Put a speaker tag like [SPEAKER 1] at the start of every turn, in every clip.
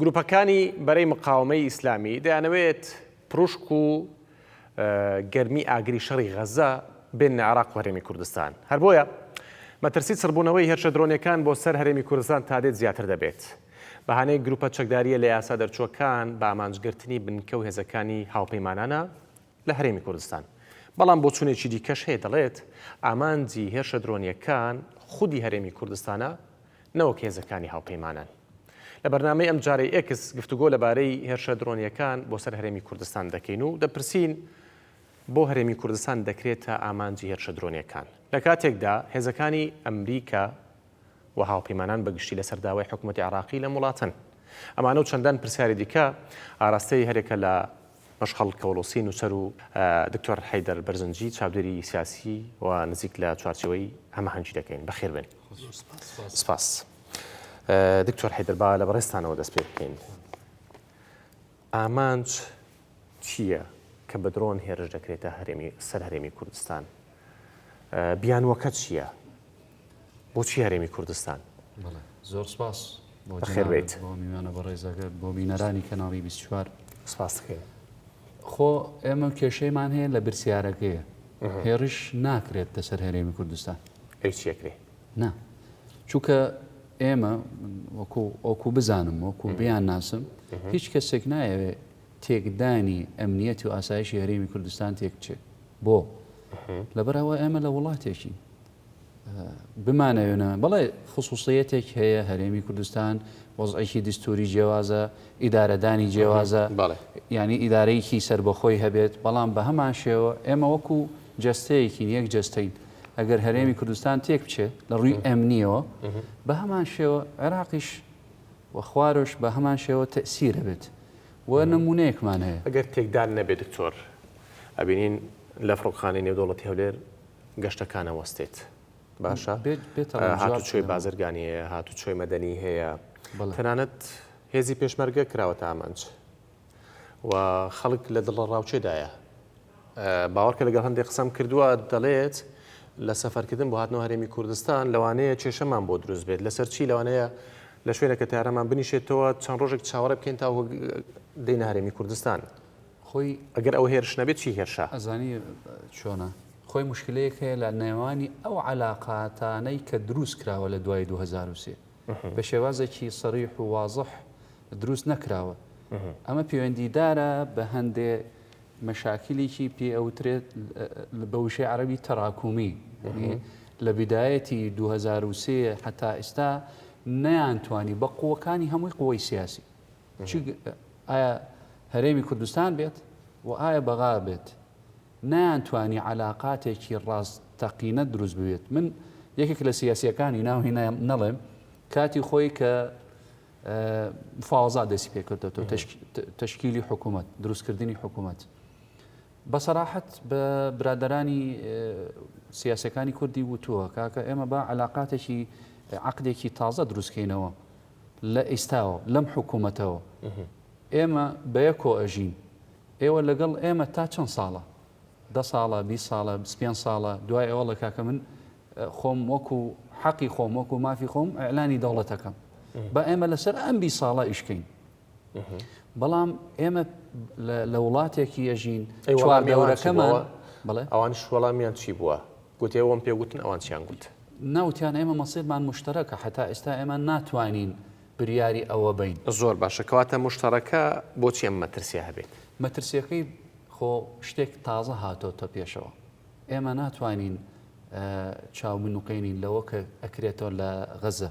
[SPEAKER 1] گروپەکانی بەرەی مقاوەمەی ئیسلامی دەیانەوێت پروشک و گەرمی ئاگری شەڕی غەزە بێننە عێراق و هەرێمی کوردستان، هەر بۆیە مەترسی چڕبوونەوەی هێرشە درۆنیەکان بۆ سەر هەرێمی کوردستان تادێت زیاتر دەبێت. بەهانەی گروپە چەکدارییە لە یاسا دەرچووەکان بە ئامانجگرتنی بنکە و هێزەکانی هاوپەیمانانە لە هەرێمی کوردستان. بەڵام بۆچوونێکی دیکەش هەیە دەڵێت ئامانجی هێرشە درۆنیەکان خودی هەرێمی کوردستانە، نەوەک هێزەکانی هاوپەیمانان. لە بەرنامەی ئەمجارەی ئێکس گفتوگۆ لەبارەی هێرشە درۆنییەکان بۆ سەر هەرێمی کوردستان دەکەین و دەپرسین، بۆ هەرێمی کوردستان دەکرێتە ئامانجی هێرشە درۆنییەکان، لە کاتێکدا هێزەکانی ئەمریکا و هاوپەیمانان بە گشتی لەسەر داوای حکومەتی عێراقی لەم وڵاتەن؟ ئەمانە و چەندان پرسیاری دیکە ئاراستەی هەرێکە لە مەشخەڵ کەوڵوسی نووسەر و دکتۆر حەیدەر بەرزنجی چاودێری سیاسی و نزیک لە چوارچێوەی هەمەهەنگی دەکەین. بەخێربێن. زۆر سپاس. سپاس. دکتۆر حەیدەر با لە بەڕێزتانەوە دەست پێ بکەین. ئامانج چییە کە بە درۆن هێرش دەکرێتە هەرێمی سەر هەرێمی کوردستان؟ بیانووەکە چییە؟ بۆچی هەرێمی کوردستان؟ بەڵێ زۆر
[SPEAKER 2] سپاس بۆ بەخێر جەنابت،
[SPEAKER 1] بێیت. بۆ میوانە بەڕێزەکەت،
[SPEAKER 2] بۆ بینەرانی کەناڵی 24. سپاس دەکەین.
[SPEAKER 1] خۆ
[SPEAKER 2] ئێمە کێشەیمان هەیە لە برسیارەکەیە هێڕش ناکرێت لەسەر هەرێمی کوردستان ئەیچێکرێ
[SPEAKER 1] نا
[SPEAKER 2] چونکە ئێمە وەکو ئۆکو بزانم وەکو بیان ناسم هیچ کەسێک نایەوێ تێکدانی ئەمنیەت و ئاسایشی هەرێمی کوردستان تێکچێت بۆ لەبەرەوە ئێمە لە وڵاتێکی بمانەوێنە بەڵێ خصوصیەتێک هەیە هەرێمی کوردستان وەزعێکی دستوری جیێوازە ئیدارەدانی جیێوازە ینی ئیدارەیەکی سربەخۆی هەبێت بەڵام بە هەمان شێوە ئێمە وەکو جستەیەکی یەک جستین ئەگەر هەرێمی کوردستان تێک بچێت لە ڕووی ئەمنیەوە بە هەمان شێوە عێراقیش وەخوارش بە هەمان شێوە تەسیرە بێت و نمونەیەکمان هەیە ئەگەر تێکدان نەبێت
[SPEAKER 1] دکتۆر ئەبینین لە فڕۆخانی نێودوڵەتی هەولێر گەشتەکانە وەستێت باشە هاتوچۆی بازرگانی هەیە هاتوچۆی مەدەنی هەیە تەنانەت هێزی پێشمەرگە کراوە تا ئامانج و خەڵک لە دڵە ڕاوچێدایە باوەڕکە لەگەڵ هەندێک قسەم کردووە دەڵێت لە سەفەرکردن بۆ هاتنەوە هەرێمی کوردستان لەوانەیە کێشەمان بۆ دروست بێت لەسەر چی لەوانەیە لە شوێنەکە تارەمان بنیشێتەوە چەند ڕۆژێک چاوەڕێ بکەین تا دەینە هەرێمی کوردستان خۆی
[SPEAKER 2] ئەگەر ئەوە هێرش
[SPEAKER 1] نەبێت چی هێرشە؟ ئەزانی
[SPEAKER 2] چۆنە؟ خۆی موشکلەیەک هەیە لە نێوانی ئەو عەلاقاتانەی کە دروست کراوە لە دوای 2023 بە شێوازێکی سەریح و وازح دروست نەکراوە ئەمە پەیوەندیدارە بە هەندێ مەشاکلیکی پێ ئەوترێت بە وشەی عەربی تەراکومی لە بدایەتی 2023 هەتا ئێستا نەیان توانی بە قوەکانی هەمووی قوی سیاسی چ ئایا هەرێمی کوردستان بێت و ئایا بەغا بێت نەیانتوانی عەلاقاتێکی ڕاستەقینە دروست ببێت من یەکێک لە سیاسیەکانی ناوی نەڵێم کاتی خۆی کە مفاوەزا دەستی پێکردێتەوە تشکیلی حکوومەت دروستکردنی حکوومەت بە سەراحەت بە برادرانی سیاسەکانی کوردی وتووە کاکە ئێمە با علااقاتێکی عقدێکی تازە دروستکەینەوە لە ئیستاوە لەم حکومەتەوە ئێمە بەیەکۆ ئەژین ئێوە لەگەڵ ئێمە تا چەند ساڵە دە ساڵە بی ساڵە پێ ساڵە دوای ئەوە لە کاکە من خۆم وەکو حەقی خۆم وەکو مافی خۆم ئەلانی دەوڵەتەکەم بە ئێمە لەسەر ئەم بی ساڵە ئیشکەین بەڵام ئێمە لە وڵاتێکی ئەژین چواردەوەەکەمەوە بڵێ ئەوان شوەڵامیان
[SPEAKER 1] چی بووە گوتێەوەم پێگوتن ئەوان چیان گوت ناوتیان ئێمە
[SPEAKER 2] مەسیرمان مشتەرەکە حتا ئێستا ئێمە ناتوانین بریاری ئەوە بین زۆر باشە کەواتە
[SPEAKER 1] مشتەرەکە بۆچی ئەم مەترسیە هەبێت مەترسیەکەی
[SPEAKER 2] خۆ شتێک تازە هاتۆتە پێشەوە ئێمە ناتوانین چاو بنوقێنین لەوە کە ئەکرێتەوە لە غەزە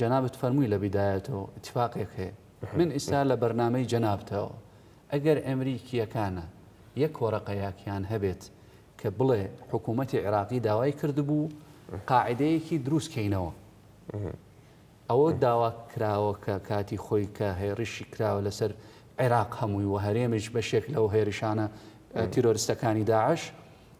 [SPEAKER 2] جەنابت فەرمووی لە بیدایەتەوە ئیتفاقێک هەیە من ئیستا لە بەرنامەی جەنابتەوە ئەگەر ئەمریکییەکانە یەک وەرەقە یاکیان هەبێت کە بڵێ حکوومەتی عێراقی داوای کردبوو قاعدەیەکی دروست کەینەوە ئەوە داوا کراوە کە کاتی خۆی کە هێڕیشی کراوە لەسەر عێراق هەمووی و هەرێمیش بەشێک لەو هێرشانە تیرۆرستەکانی داعش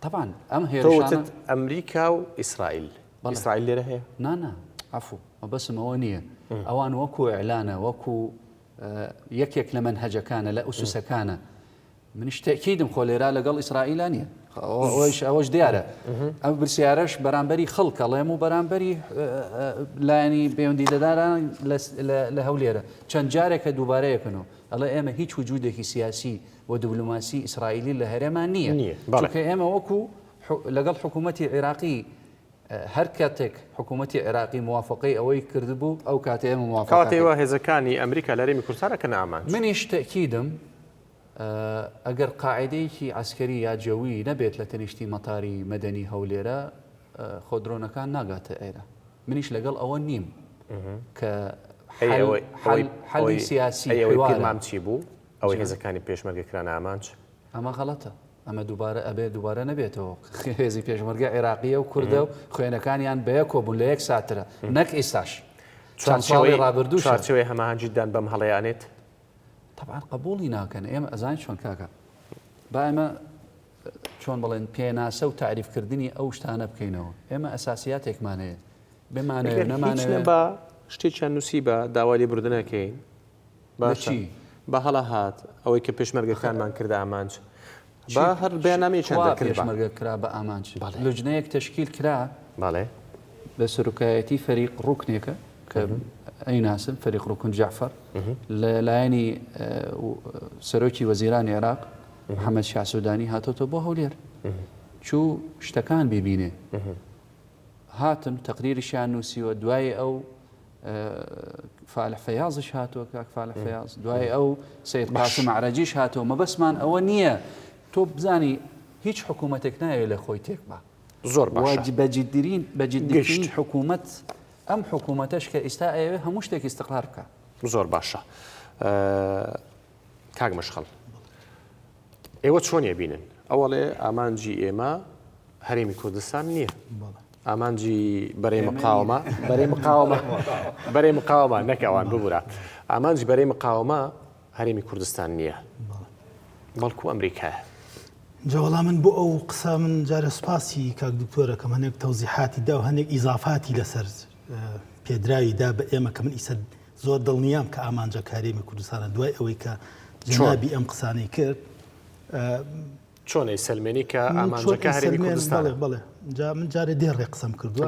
[SPEAKER 1] طبعا ئەم
[SPEAKER 2] هێرشانە ئەمریکا و
[SPEAKER 1] ئیسرائیل ئیسرائیل لێرە هەیە نانا عفو
[SPEAKER 2] مەبەسم ئەوە نییە ئەوان وەکو ئەلانە وەکو یەکێک لە من هەجەکانە لە ئوسوسەکانە منیش تەکیدم خۆ لێرا لەگەڵ ئیسرائیلان نیە ئەوش ئەوەش دیارە ئەم برسیارەش بەرامبەری خەڵکەڵێم و بەرامبەری لایەنی پەیوەندی دەداران لە هەولێرە چەند جارێکە دووبارەیەکەنەوە ئەڵێ ئێمە هیچ وجودێکی سیاسی و دبلۆماسی ئیسرائیلی لە هەرێما نییە چونکە ئێمە وەکو لەگەڵ حکوومەتتی عێراقی هەر کاتێک حکوومەتتی عێراقی موواافقی ئەوەی کردبوو ئەو کاتێ ئێمە موواافقاتەوە هێزەکانی
[SPEAKER 1] ئەمریکا لەرێمی کوردستانە کە نامان منیش تەکیدم
[SPEAKER 2] ئەگەر قاعدەیەکی ئەسکەری یا جەوی نەبێت لە تەنیشتی مەتاری مەدەنی هەولێرە خۆ درۆنەکان ناگاتە ئێرە منیش لەگەڵ ئەوە نیم کە حەلی سیاسی مامچی بوو
[SPEAKER 1] ئەوەی هێزەکانی پێشمەرگە کرانە ئامانج؟ ئەمە غەڵەتە،
[SPEAKER 2] ئەمە دووبارە ئەبێت دووبارە نەبێتەوە، هێزی پێشمەرگە عێراقیە و کوردە و خوێنەکانیان بەیەکەوە بوون لە یەک ساترە نەک ئیستاش چەند ساڵی ڕابردوو چارچەوەی هەماهەنگیدان
[SPEAKER 1] بەم هەڵەیە ئەنێت؟ تەبعەن
[SPEAKER 2] قبوڵی ناکەن ئێمە ئەزانین چۆن کاکە با ئێمە چۆن بڵێن پێناسە و تعریفکردنی ئەو شتانە بکەینەوە ئێمە ئەساسیاتێکمان هەیە بمانەوێت نەمانەوێت بە شتێکیان
[SPEAKER 1] نووسی بە داوای لێبوردنەکەین
[SPEAKER 2] باشە با هەڵە
[SPEAKER 1] هات ئەوەی کە پێشمەرگەکانمان کردە ئامانج با هەر بەیاننامەیەکیان دەکرد با. پێشمەرگە کرا بە
[SPEAKER 2] ئامانج بەڵێ. لوجنەیەک تەشکیل کرا بەڵێ
[SPEAKER 1] بە
[SPEAKER 2] سەرۆکایەتی فەریق ڕوکنێکە کە ئەیناسن فەریق ڕوکن جعفەر لە لایەنی سەرۆکی وەزیرانی عێراق محەممەد شاسوودانی هاتۆتە بۆ هەولێر چوو شتەکان ببینێ هاتن تەقریریشیان نووسیوە دوای ئەو فالح فەیازش هاتووە کاک فالح فەیاز دوای ئەو سید قاسم عرەجیش هاتەوە مەبەسمان ئەوە نییە تۆ بزانی هیچ حکوومەتێک ناوێت لە خۆی تێکبا زۆر باج
[SPEAKER 1] بەجددرین
[SPEAKER 2] بەجددیشت حکوومەت ئەم حکوومەتەش کە ئیستا ئەوێ هەموو شتێک استقرار بکە زۆر باشە.
[SPEAKER 1] کاک مەشخەڵ ئێوە چۆن ئەبینن ئەوەڵێ ئامانجی ئێمە هەرێمی کوردستان نییە ئامانجی بەرەی مقاومە بەرەی مقاومە بەرەی مقاومە نەکەوان ببورە ئامانجی بەرەی مقاومە هەرێمی کوردستان نییە بەڵکو ئەمریکا جاوەڵام
[SPEAKER 3] من بۆ ئەو قسە من جارە سوپاسی کاک دکتۆرەکەم هەنێک تەوزیحاتی دا و هەنێک ئیزافاتی لەسەر پێدراوی دا بە ئێمە کە من ئیسە زۆر دڵنیام کە ئامانجە کارێمی کوردستانە دوای ئەوەی کە جنابی ئەم قسانەی کرد
[SPEAKER 1] چۆنەی سلمێنی کە ئامانجەکە هەرێمی کوردستان بڵێ من
[SPEAKER 3] جارێ دێ ڕێ قسەم کردو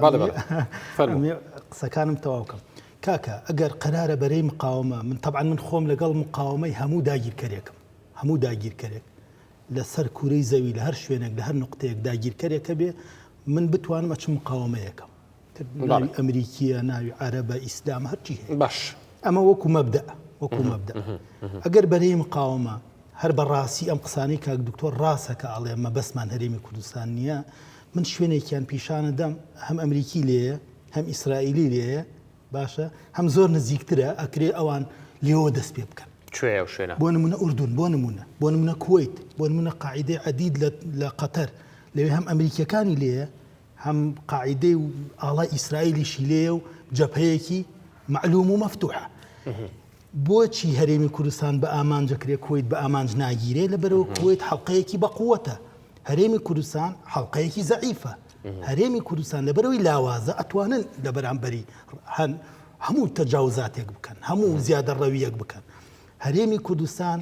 [SPEAKER 3] قسەکانم تەواوکەم کاکە ئەگەر قەرارە بەرەی مقاومە من طبعا من خۆم لەگەڵ مقاومەی هەموو داگیرکەرێکم هەموو داگیرکەرێک لەسەر کوورەی زەوی لە هەر شوێنێک لە هەر نقطەیەک داگیرکەرێکە بێ من بتوانم ئەچ مقاومەیەکەم ناوی ئەمریکیە ناوی عەرەبە ئیسلام هەرچی هەیە باش ئەمە وەکو
[SPEAKER 1] مەبدا
[SPEAKER 3] وەکو مەبدا ئەگەر بەرەی مقاومە هەر بە ڕاستی ئەم قسانەی کاک دکتۆر ڕاستە کە ئاڵێ مە بەسمان هەرێمی کوردستان نییە من شوێنێکیان پیشانە دەم هەم ئەمریکی لێە هەم ئیسرائیلی لێە باشە هەم زۆر نزیکترە ئەکرێ ئەوان لێەوە دەست پێ بکەن کوێ و شوێنە بۆ
[SPEAKER 1] نمونە ئوردون بۆ
[SPEAKER 3] نمونە بۆ نمونە کویت بۆ نمونە قاعدەی عدید لە قەتەر لەوێ هەم ئەمریکیەکانی لێە هەم قاعیدەی و ئاڵای ئیسرائیلیشی لێیە و جەبهەیەکی مەعلووم و مەفتوحە. بۆچی هەرێمی کوردستان بە ئامانجەکرێ کویت بە ئامانج ناگیرێ لە بەرەوە کویت حڵلقەیەکی بەقووەتە هەرێمی کوردستان حڵلقەیەکی زەعیفە هەرێمی کوردستان لە بەرەوەی لاوازە ئەتوانن لە بەرامبەری هەن هەموو تەجاوزاتێک بکەن هەموو زیادە ڕەویەک بکەن هەرێمی کوردستان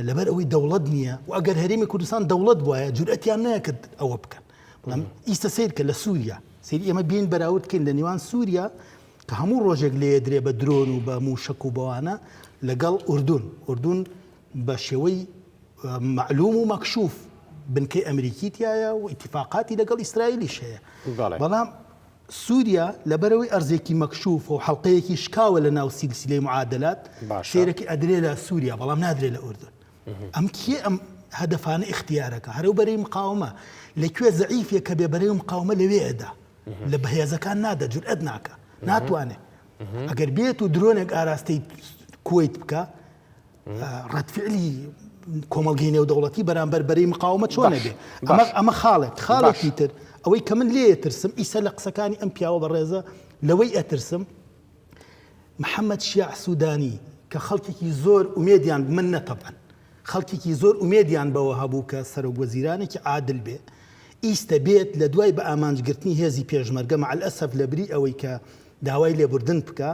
[SPEAKER 3] لەبەر ئەوەی دەوڵەت نییە و ئەگەر هەرێمی کوردستان دەوڵەت بواە جورئەتیان نەکرد ئەوە بکەن بڵم ئیستا سیر کە لە سووریا سری ئێمە بین بەراوردکەین لە نێوان سووریا کە هەموو ڕۆژێک لێ درێ بە درۆن و بە موشک و بەوانە لەگەڵ ئوردون ئوردون بە شێوەی معلوم و مەکشوف بنکەی ئەمریکی تایە و اتفاقاتی لەگەڵ ئیسرائیلیش هەیە بەڵام سوریا لەبەرئەوەی ئەرزێکی مەکشوف و حەڵقەیەکی شکاوە لە ناو سیلسیلەی معادلات، سەیرەکی ئەدرێ لە سوریا بەڵام نادرێ لە ئوردن. ئەم کێ ئەم هەدەفانە ئیختیارەکا؟ هەرەو بەرەی مقاومە. لە کوێ زەعیفیە کە بێ بەرەی و مقاومە لەوێ ئەدا. لە بەهێزەکان نادا، جورئەت ناکا. ناتوانێ. ئەگەر بێت و درۆنێک ئاراستەی کوەیت بکا، ڕەتفعلی کۆمەڵگەی نێودەوڵەتی بەرامبەر بەری مقاومە چۆنە بێ ئەمە خاڵێک خاڵێکی تر ئەوەی کە من لێ ترسم ئیسە لە قسەکانی ئەم پیاوە بەڕێزە لەوەی ئەترسم محەممەد شیع سوودانی کە خەڵکێکی زۆر ئومێدیان من نەتەبەن خەڵکێکی زۆر ئومێدیان بەوە هەبوو کە سەرۆک وەزیرانێکی عادل بێ ئیستە بێت لە دوای بە ئامانجگرتنی هێزی پێشمەرگە مەعلئەسەف لە بری ئەوەی کە داوای لێبوردن بکە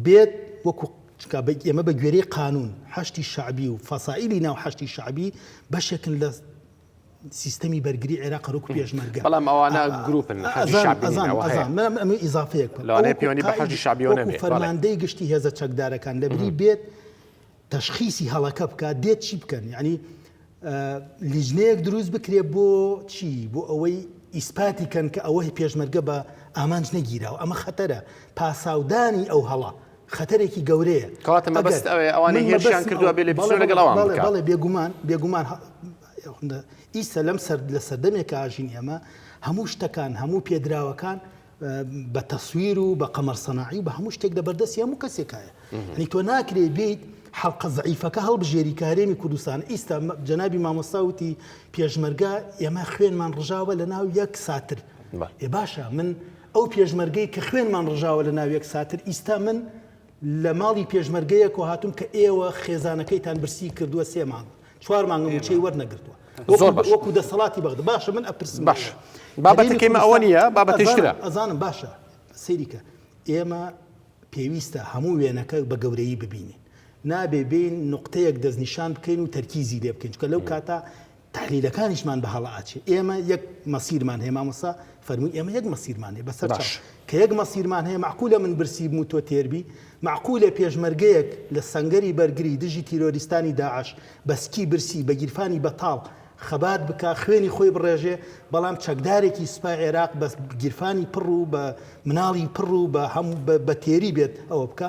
[SPEAKER 3] بێت وەکو چونکە ئێمە بە گوێرەی قانون حەشتی شعبی و فەسائلی ناو حەشتی شعبی بەشێکن لە سیستەمی بەرگری عێراق ڕوک پێشمەرگە بەڵام ئەوانە
[SPEAKER 1] گروپن ئیزافەیەک
[SPEAKER 3] پێوانی بە حەشتی شعبیەوە فەرماندەی گشتی هێزە چەکدارەکان لەبری بێت تەشخیسی هەڵەکە بکات دێت چی بکەن یانی لیجنەیەک دروست بکرێ بۆ چی بۆ ئەوەی ئیسپاتی کەن کە ئەوەی پێشمەرگە بە ئامانج نەگیراوە ئەمە خەتەرە پاساودانی ئەو هەڵە خەتەرێکی گەورەیە کەواتە مەبەست ئەوێ
[SPEAKER 1] ئەوانەی هێرشیان کردووە بێ لێ بسوێ لەگەڵ ئەوان بڵێ بکە. بەڵێ بێگومان بێگومان
[SPEAKER 3] ه- ئیسە لەم سەر لە سەردەمێکا ژین ئێمە هەموو شتەکان هەموو پێدراوەکان بە تەسویر و بە قەمەر سەناعی و بە هەموو شتێک لەبەردەستی هەموو کەسێکایە ئەنی تۆ ناکرێ بێیت حەڵقە زعیفەکە هەڵبژێری کارێمی کوردستان ئیستا جەنابی مامۆستا وتی پێشمەرگە ئێمە خوێنمان ڕژاوە لە ناو یەک ساتر ێ باشە من ئەو پێشمەرگەی کە خوێنمان ڕژاوە لە ناو یەک ساتر ئیستا من لە ماڵی پێشمەرگەیەک و هاتووم کە ئێوە خێزانەکەیتان برسی کردووە سێ مانگ چوار مانگە موچەی وەرنەگرتووە زۆر باش وەکو دەسەڵاتی بەغدا باشە من ئەپرسم باش بابەتی
[SPEAKER 1] کەمە ئەوە نیە بابەتیشترە ئەزانم باشە
[SPEAKER 3] سەیریکە ئێمە پێویستە هەموو وێنەکە بە گەورەی ببینین نابێ بین نقطەیەک دەستنیشان بکەین و تەرکیزی لێ بکەین چکە لەو کاتە تەحلیلەکانیشمان بە هەڵە ئەچێ ئێمە یەک مەسیرمان هەیە مامۆستا فەرمووی ئێمە یەک مەسیرمان هەیە بەسەر چاو کە یەک مەسیرمان هەیە معقولە من برسی بم و تۆ تێربی معقولە پێشمەرگەیەک لە سەنگەری بەرگری دژی تیرۆریستانی داعش بە سکی برسی بە گیرفانی بەتاڵ خەبات بکا خوێنی خۆی بڕێژێ بەڵام چەکدارێکی سوپای عێراق بە گیرفانی پڕ و بە مناڵی پڕ و بە هەم بە تێری بێت ئەوە بکە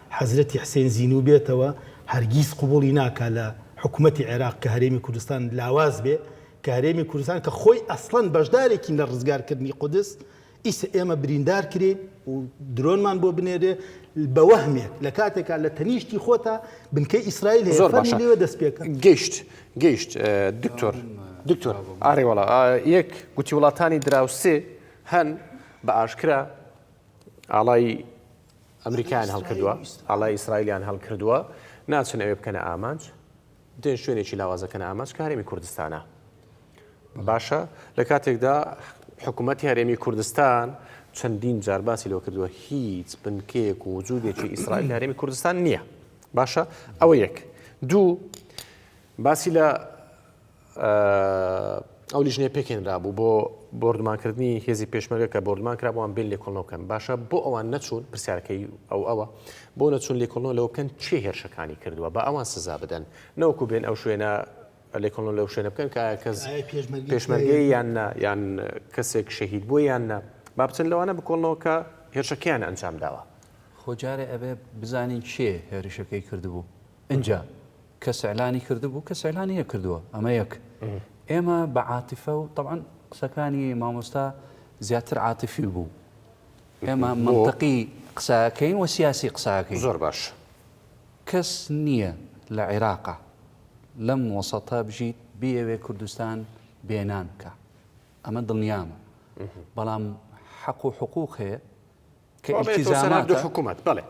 [SPEAKER 3] حەزرەتی حسێن زینو بێتەوە هەرگیز قبوڵی ناکا لە حکومەتی عێراق کە هەرێمی کوردستان لاواز بێ کە هەرێمی کوردستان کە خۆی ئەسڵەن بەشدارێکین لە ڕزگار کردنی قودس ئیسە ئێمە بریندار کرێین و درۆنمان بۆ بنێرێ بە وەهمێک لە کاتێکا لە تەنیشتی خۆتا بنکەی ئیسرائیل هەیە زۆر باشە لێوە دەست پێکە گەیشت گەیشت
[SPEAKER 1] دکتۆر دکتۆر ئاری وڵا یەک گوتی وڵاتانی دراوسێ هەن بە ئاشکرا ئاڵای ئەمریکایان هەڵکردوە ئەڵێ ئیسرائیلیان هەڵکردوە ناچن ئەوێ بکەنە ئامانج دێن شوێنێکی لاوازەکەن ئامانج کارێمی کوردستانە باشە لە کاتێکدا حکوومەت هەرێمی کوردستان چەندین جار باسی لۆ کردووە هیچ بنکەیەک و وجودێکی ئیسرائیل هەرێمی کوردستان نییە باشە ئەوە یەک دوو باسی لە ئەو لیژنەیە پێکهێنرابوو بۆ بۆردومانکردنی هێزی پێشمەرگە کە بۆردومان کرابووان بێن لێکۆڵنەوە بکەن باشە بۆ ئەوان نەچوون پرسیارەکەی ئەو ئەوە بۆ نەچوون لێکۆڵنەوە لەوە بکەن چێ هێرشەکانی کردووە بە ئەوان سزا بدەن نەوەکو بێن ئەو شوێنە لێکۆڵنەوە لەو شوێنە بکەن کە کەس پێشمەرگەی یان نە یان کەسێک شەهید بووە یان نە با بچن لەوانە بکۆڵنەوە کە هێرشەکەیان ئەنجام داوە خۆجارێ ئەبێ
[SPEAKER 2] بزانین چێ هێرشەکەی کردبوو. ئینجا کەس ئیعلانی کردبوو کەس ئیعلانی نەکردووە ئەمە یەک ئێمە بە عاتیفە و تەعەن قسەکانی مامۆستا زیاتر عاتیفی بوو ئێمە منتەقی قساکەین و سیاسی قساکەی زۆر باش
[SPEAKER 1] کەس
[SPEAKER 2] نییە لە عێراقا لەم وەسەتە بژیت بیەوێ کوردستان بێنان بکە ئەمە دڵنیامە بەڵام حەق و حقوق هەیە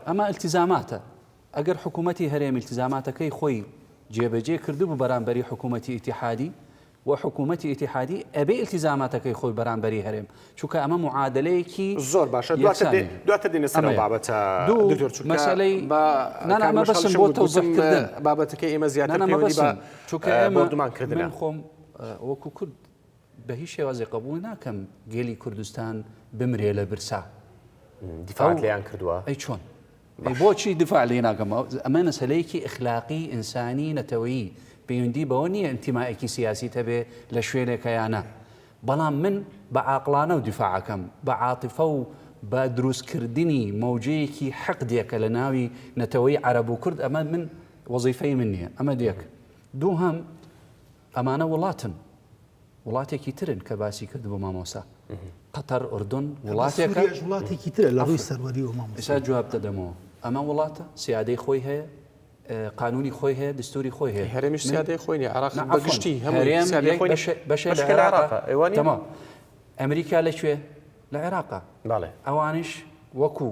[SPEAKER 1] ئەمە التزاماتە
[SPEAKER 2] ئەگەر حکوومەتی هەرێم التزاماتەکەی خۆی جێبەجێ کردبوو بەرامبەری حکوومەتی ئیتحادی و حکوومەتی ئیتحادی ئەبێ التزاماتەکەی خۆی بەرامبەری هەرێم چونکە ئەمە معادلەیەکی زۆر باشە
[SPEAKER 1] دواتر دێنە سەر بابەتە مەسەلەی
[SPEAKER 2] نانامە بەسم بۆ تەوزەکردن بابەتەکەی ئێمە
[SPEAKER 1] زیاتر چونکە ئێمە دومان
[SPEAKER 2] کردن خۆم وەکو کورد بە هیچ شێوازێ قبوڵ ناکەم گەلی کوردستان بمرێ لە برسا. دیفاعت
[SPEAKER 1] لێیان کردووە؟ ئەی چۆن؟
[SPEAKER 2] بۆچی دفاع لێ ناکەم ئەمە مەسلەیەکی ئەخلاقی ئینسانی نەتەوەیی پەیوەندی بەوە نییە ئەنتیمایەکی سیاسی هەبێ لە شوێنێکە یا نا بەڵام من بە عاقڵانە و دیفاعەکەم بە عاتفە و بە دروستکردنی مەوجەیەکی حەقدێکە لە ناوی نەتەوەی عەرەب و کورد ئەمە من وەزیفەی من نییە ئەمە دێک دووهم ئەمانە وڵاتن وڵاتێکی ترن کە باسی کرد بۆ مامۆسا قەتەر ئۆردۆن وڵاتێکە وڵاتێکی
[SPEAKER 3] ترە لە ڕووی سەروەری و مامۆسا جواب دەدەمەوە
[SPEAKER 2] ئەمە وڵاتە سیادەی خۆی هەیە قانونی خۆی هەیە دستوری خۆی هەیە هەرێمی سیادەی خۆی
[SPEAKER 1] عراق بەگشتی هەمووەما
[SPEAKER 2] ئەمریکا لەکوێ لە عێراقا ئەوانش وەکو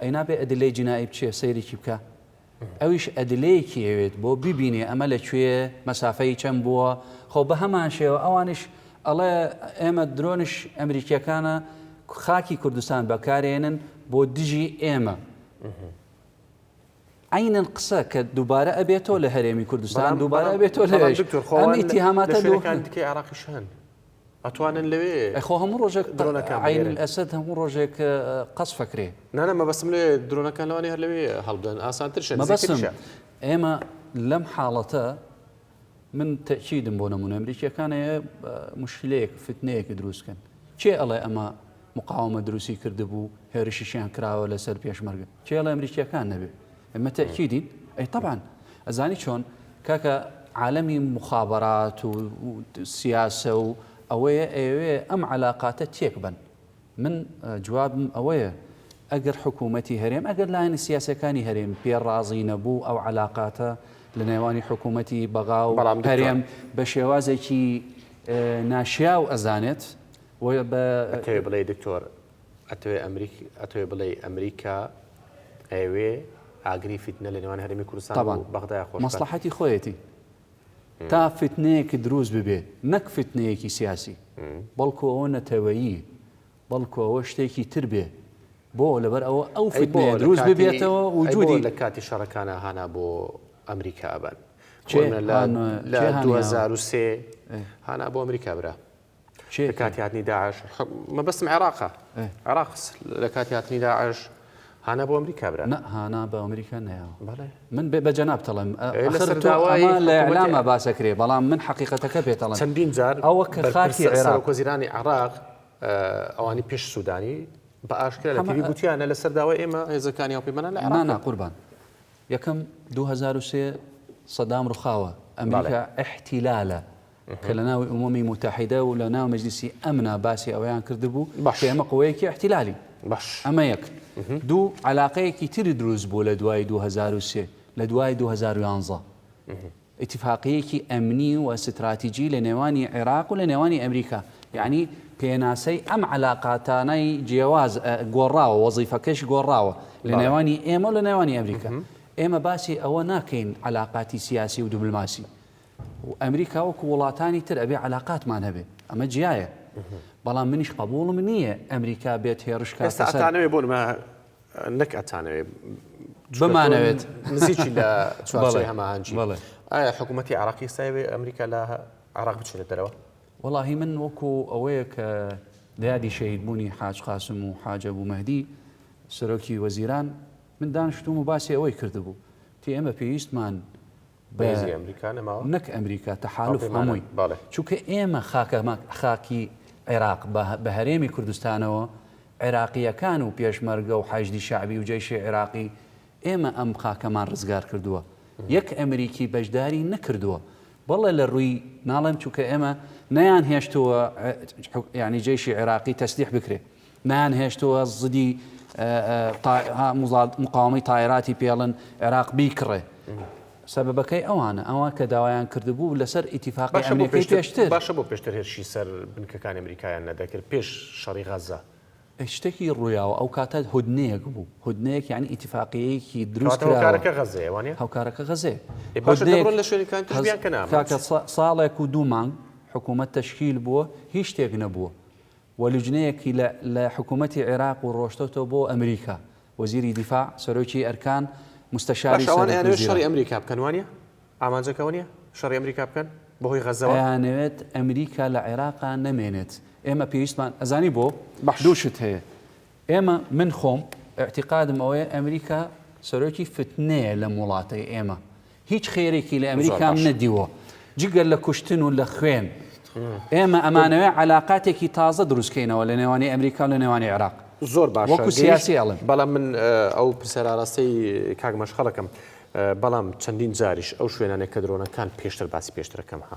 [SPEAKER 2] ئەی نابێ ئەدلەی جینائی بچێ سەیرێکی بکا ئەویش ئەدلەیەکی ئەوێت بۆ ببینێ ئەمە لە کوێ مەسافەی چەند بووە خۆ بەهەمان شێوە ئەوانیش ئەڵێ ئێمە درۆنش ئەمریکیەکانە خاکی کوردستان بەکارێنن بۆ دژی ئێمە عینەن قسە کە دووبارە ئەبێتەوە لە هەرێمی کوردستان دووبارە بێتەوە لەێش ئەم ئیتیهاماتەکان دیکە عراقیش
[SPEAKER 1] هەن ئەتوانن لەوێ ئەی خۆ هەموو ڕۆژێک
[SPEAKER 2] درۆنەکان عەین بگێرن. الاسد هەموو ڕۆژێک اه، قەسف ئەکرێ نانە مەبەستم لێ
[SPEAKER 1] درۆنەکان لەوانەیە هەر لەوێ هەڵبدەن ئاسانترشە مەبەستم نزیکتریشە
[SPEAKER 2] ئێمە لەم حاڵەتە من تەئکیدم بۆ نمونە ئەمریکیەکان اه، مشکلەیەک فتنەیەک دروست کەن کێ ئەڵێ ئەمە مقاومە دروستی کردبوو هێرشیشیان کراوە لەسەر پێشمەرگە کێ ئەڵێ ئەمریکیەکان نەبێ ئێمە تەئکیدین ئەی تەبعەن ئەزانی چۆن کاکە عالەمی مخابرات و سیاسە و ئەوەیە ئەیەوێ ئەم علاقاتە تێک بن من جوابم ئەوەیە ئەگەر حکوومەتی هەرێم ئەگەر لایەنە سیاسەکانی هەرێم پێ ڕازی نەبوو ئەو علاقاتە لە نێوانی حکوومەتی بەغا و هەرێم بە شێوازێکی ناشیا و ئەزانێت بە
[SPEAKER 1] بڵێ دکتۆر ئەتەوێ ئەمریک ئەتەوێ بڵێی ئەمریکا ئەیەوێ ئاگری فیتنە لە نێوان هەرێمی کوردستان و طبعا بەغدایە خۆش بکات. مەسڵەحەتی خۆیەتی
[SPEAKER 2] تا فیتنەیەک دروست ببێت نەک فیتنەیەکی سیاسی بەڵکو ئەوە نەتەوەیی بەڵکو ئەوە شتێکی تر بێ بۆ لەبەر ئەوە ئەو ئەی بۆ فیتنەیە لە دروست کاتی ببێتەوە ئەی بۆ وجودی لە کاتی شەڕەکانا
[SPEAKER 1] هانا بۆ ئەمریکا ئەبەن کێ؟ خۆ لە هان- لە کێ هانیاوە؟ 2003 ئێ. هانا بۆ ئەمریکا برا لە کاتی هاتنی داعش مەبەستم عێراقە عێراق لە کاتی هاتنی داعش هانا بۆ ئەمریکا برا هانا بە ئەمریکا
[SPEAKER 2] نەیەوە من بێ بە جەناب تەڵم لە ئەلامە باسەکرێ بەڵام من حقیقەتەکە پێتەڵم چەندین جار ئەوە کە
[SPEAKER 1] خاکی
[SPEAKER 2] عێراق وەزیرانی عراق
[SPEAKER 1] ئەوانی پێش سوودانی بە ئاشکرا لە تیوی گوتیانە لە سەرداوای ئێمە هێزەکانی ئەو پێمەە لە ئەنا قوربان
[SPEAKER 2] یەکەم 2023 سەدام ڕخاوە ئەمریکا احتیلالە کە لە ناو ئومەمی موتەحیدە و لە ناو مەجلیسی ئەمنا باسی ئەوەیان کردبوو کە ئێمە قوەیەکی ئیحتیلالین. ئەمە یەک. دوو، عەلاقەیەکی تری دروست بوو لە دوای دوو هەزار و سێ، لە دوای دوو هەزار و یانزە. ئیتیفاقییەکی ئەمنی و ستراتیجی لە نێوانی عێراق و لە نێوانی ئەمریکا. یانی پێناسەی ئەم عەلاقاتانەی جیاواز گۆڕاوە، وەزیفەکەش گۆڕاوە لە نێوانی ئێمە و لە نێوانی ئەمریکا. ئێمە باسی ئەوە ناکەین عەلاقاتی سیاسی و دبلماسی و ئەمریکا وەکو وڵاتانی تر ئەبێ عەلاقاتمان هەبێ ئەمە جیایە بەڵام منیش قەبووڵم نییە ئەمریکا بێت هێڕش کاتە سەر ئێستا ئەتانەوێ بۆ نمە
[SPEAKER 1] نەک ئەتانەوێ بمانەوێت
[SPEAKER 2] نزیکی لە
[SPEAKER 1] چوارچێوەی هەماهەنگی ئایا حکوومەتی عێراقی ئێستا ئەوێ ئەمریکا لە عێراق بچێتە دەرەوە وەڵاهی من
[SPEAKER 2] وەکو ئەوەیە کە لە یادی شەهیدبوونی حاج قاسم و حاج ئەبوو مەهدی سەرۆکی وەزیران من دانیشتووم و باسی ئەوەی کردبوو تی ئێمە پێویستمان بەهێزی ئەمریکا نەماوە نەک ئەمریکا تەحالف هەمووی چونکە ئێمە خاکەمە خاکی عێراق بە هەرێمی کوردستانەوە عێراقیەکان و پێشمەرگە و حەشدی شعبی و جەیشی عێراقی ئێمە ئەم خاکەمان ڕزگار کردووە یەک ئەمریکی بەشداری نەکردووە بەڵێ لە ڕووی ناڵێم چونکە ئێمە نەیان هێشتووە ینی جەیشی عێراقی تەسلیح بکرێت نەیان هێشتووە زدی مقاوەمەی تایراتی پێڵن عێراق بیکڕێ. سەبەبەکەی ئەوانە، ئەوان کە داوایان کردبوو لەسەر ئیتیفاقی ئەمنیەکەی پێشتر. باشە بۆ پێشتر هێرشی
[SPEAKER 1] سەر بنکەکانی ئەمریکایان نەدەکرد پێش شەڕی غەزە؟ شتێکی
[SPEAKER 2] ڕوویاوە ئەو کاتە هودنەیەک بوو، هودنەیەک یانی ئیتیفاقیەیەکی دروست کراوە. کاتە هۆکارەکە غەزەیە وانیە؟
[SPEAKER 1] هۆکارەکە غەزەیە.
[SPEAKER 2] باشە دەبڕن لە
[SPEAKER 1] شوێنەکان تشبیان کەنامە. کاکە ساڵێک
[SPEAKER 2] و دوو مانگ حکوومەت تەشکیل بووە هیچ شتێک نەبووە. و لوجنەیەکی لە لە حکوومەتی عێراق و ڕۆشتۆتەوە بۆ ئەمریکا، وەزیری دیفاع، سەرۆکی ئەرکان، مستەشاری سەرۆک وزیران. باشە ئەوان ئەیانەوێت شەڕی ئەمریکا
[SPEAKER 1] بکەن وانیە؟ ئامانجەکە ئەوە نیە شەڕی ئەمریکا بکەن بەهۆی غەزەوە؟ ئەیانەوێت ئەمریکا
[SPEAKER 2] لە عێراقا نەمێنێت، ئێمە پێویستمان ئەزانی بۆ؟ دوو شت هەیە ئێمە، من خۆم، ئیعتیقادم ئەوەیە ئەمریکا سەرۆکی فتنەیە لەم وڵاتەی ئێمە هیچ خێرێکی لە ئەمریکام نەدیوە جگەر لە کوشتن و لە خوێن ئێمە ئەمانەوەی علااقاتێکی تازە دروستکەینەوە لە نێوانی ئەمریکا لە نێوانی عێراق زۆر باش وەکو
[SPEAKER 1] سیاسی ئەڵم
[SPEAKER 2] بەڵام من
[SPEAKER 1] ئەو پرسەراراستەی کاک مەشخەڵەکەم بەڵام چەندین جاریش ئەو شوێنانێک کە درۆنەکان پێشتر باسی پێشترەکەم ها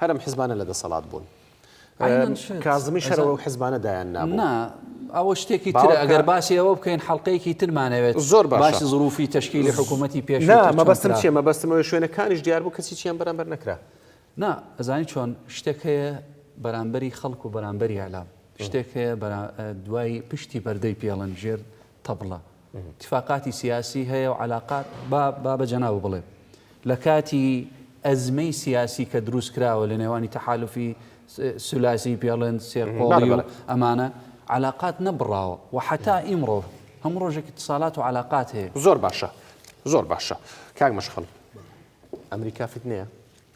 [SPEAKER 1] هەر ئەم حزبانە لە دەسەڵات بوون. عەینەن شت. کازمی شەرەوە ئەو حزبانە دایان نابوو. نا ئەوە
[SPEAKER 2] شتێکی ترە باوەڕکە. ئەگەر باسی ئەوە بکەین حەڵقەیەکی ترمان ئەوێت زۆر باشە. باسی زروفی
[SPEAKER 1] تەشکیلی
[SPEAKER 2] حکوومەتی پێشوو نا کە چۆن مەبەستم کرا. چییە مەبەستم
[SPEAKER 1] ئەوەیە شوێنە کانیش دیار بوو کەسی چیان بەرامبەر نەکرا. نا ئەزانی
[SPEAKER 2] چۆن شتێک هەیە بەرامبەری خەڵک و بەرامبەری ئیعلام شتێک هەیە بەرا دوای پشتی پەردەی پێڵن ژێر طبلە اتفاقاتی سیاسی هەیە و عەلاقات با با بە جەنابت بڵێم لە کاتی ئەزمەی سیاسی کە دروست کراوە لە نێوانی تەحالوفی سولاسی پێڵند سێرقۆڵی و ئەمانە عەلاقات نەبڕاوە و حەتا ئیمڕۆ هەموو ڕۆژێک اتصالات و عەلاقات هەیە زۆر باشە
[SPEAKER 1] زۆر باشە کاک مەشخەڵ ئەمریکا فتنەیە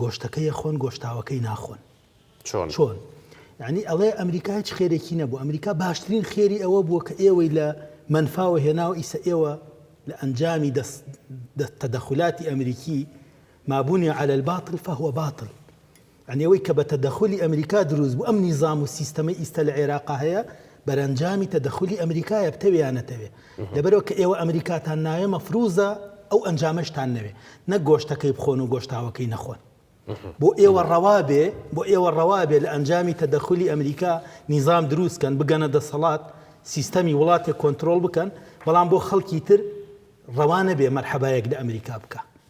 [SPEAKER 3] گۆشتەکەی ئەخۆن گۆشتاوەکەی ناخۆن چۆن چۆن یعنی ئەڵێ ئەمریکا هیچ خێرێکی نەبوو ئەمریکا باشترین خێری ئەوە بووە کە ئێوەی لە منفاوە هێناوە ئیسە ئێوە لە ئەنجامی تەدەخلاتی ئەمریکی مابوونی على الباطل فهو باطل یانی ئەوەی کە بە تەدەخولی ئەمریکا دروست بوو، ئەم نیزام و سیستەمەی ئیستە لە عێراقا هەیە بەرەنجامی تەدەخولی ئەمریکایە بتەوێ یا نەتەوێ. لەبەرئەوە کە ئێوە ئەمریکاتان ناوێ مەفروزە ئەو ئەنجامەشتان نەوێ. نەک گۆشتەکەی بخۆن و گۆشتاوەکەی نەخۆن. بۆ ئێوە ڕەوا بێ، بۆ ئێوە ڕەوا بێ لە ئەنجامی تەدەخولی ئەمریکا نیزام دروست کەن، بگەنە دەسەڵات، سیستەمی وڵاتێک کۆنترۆڵ بکەن، بەڵام بۆ خەڵکی تر ڕەوا نەبێ مەرحەبایەک لە ئەمریکا بکا.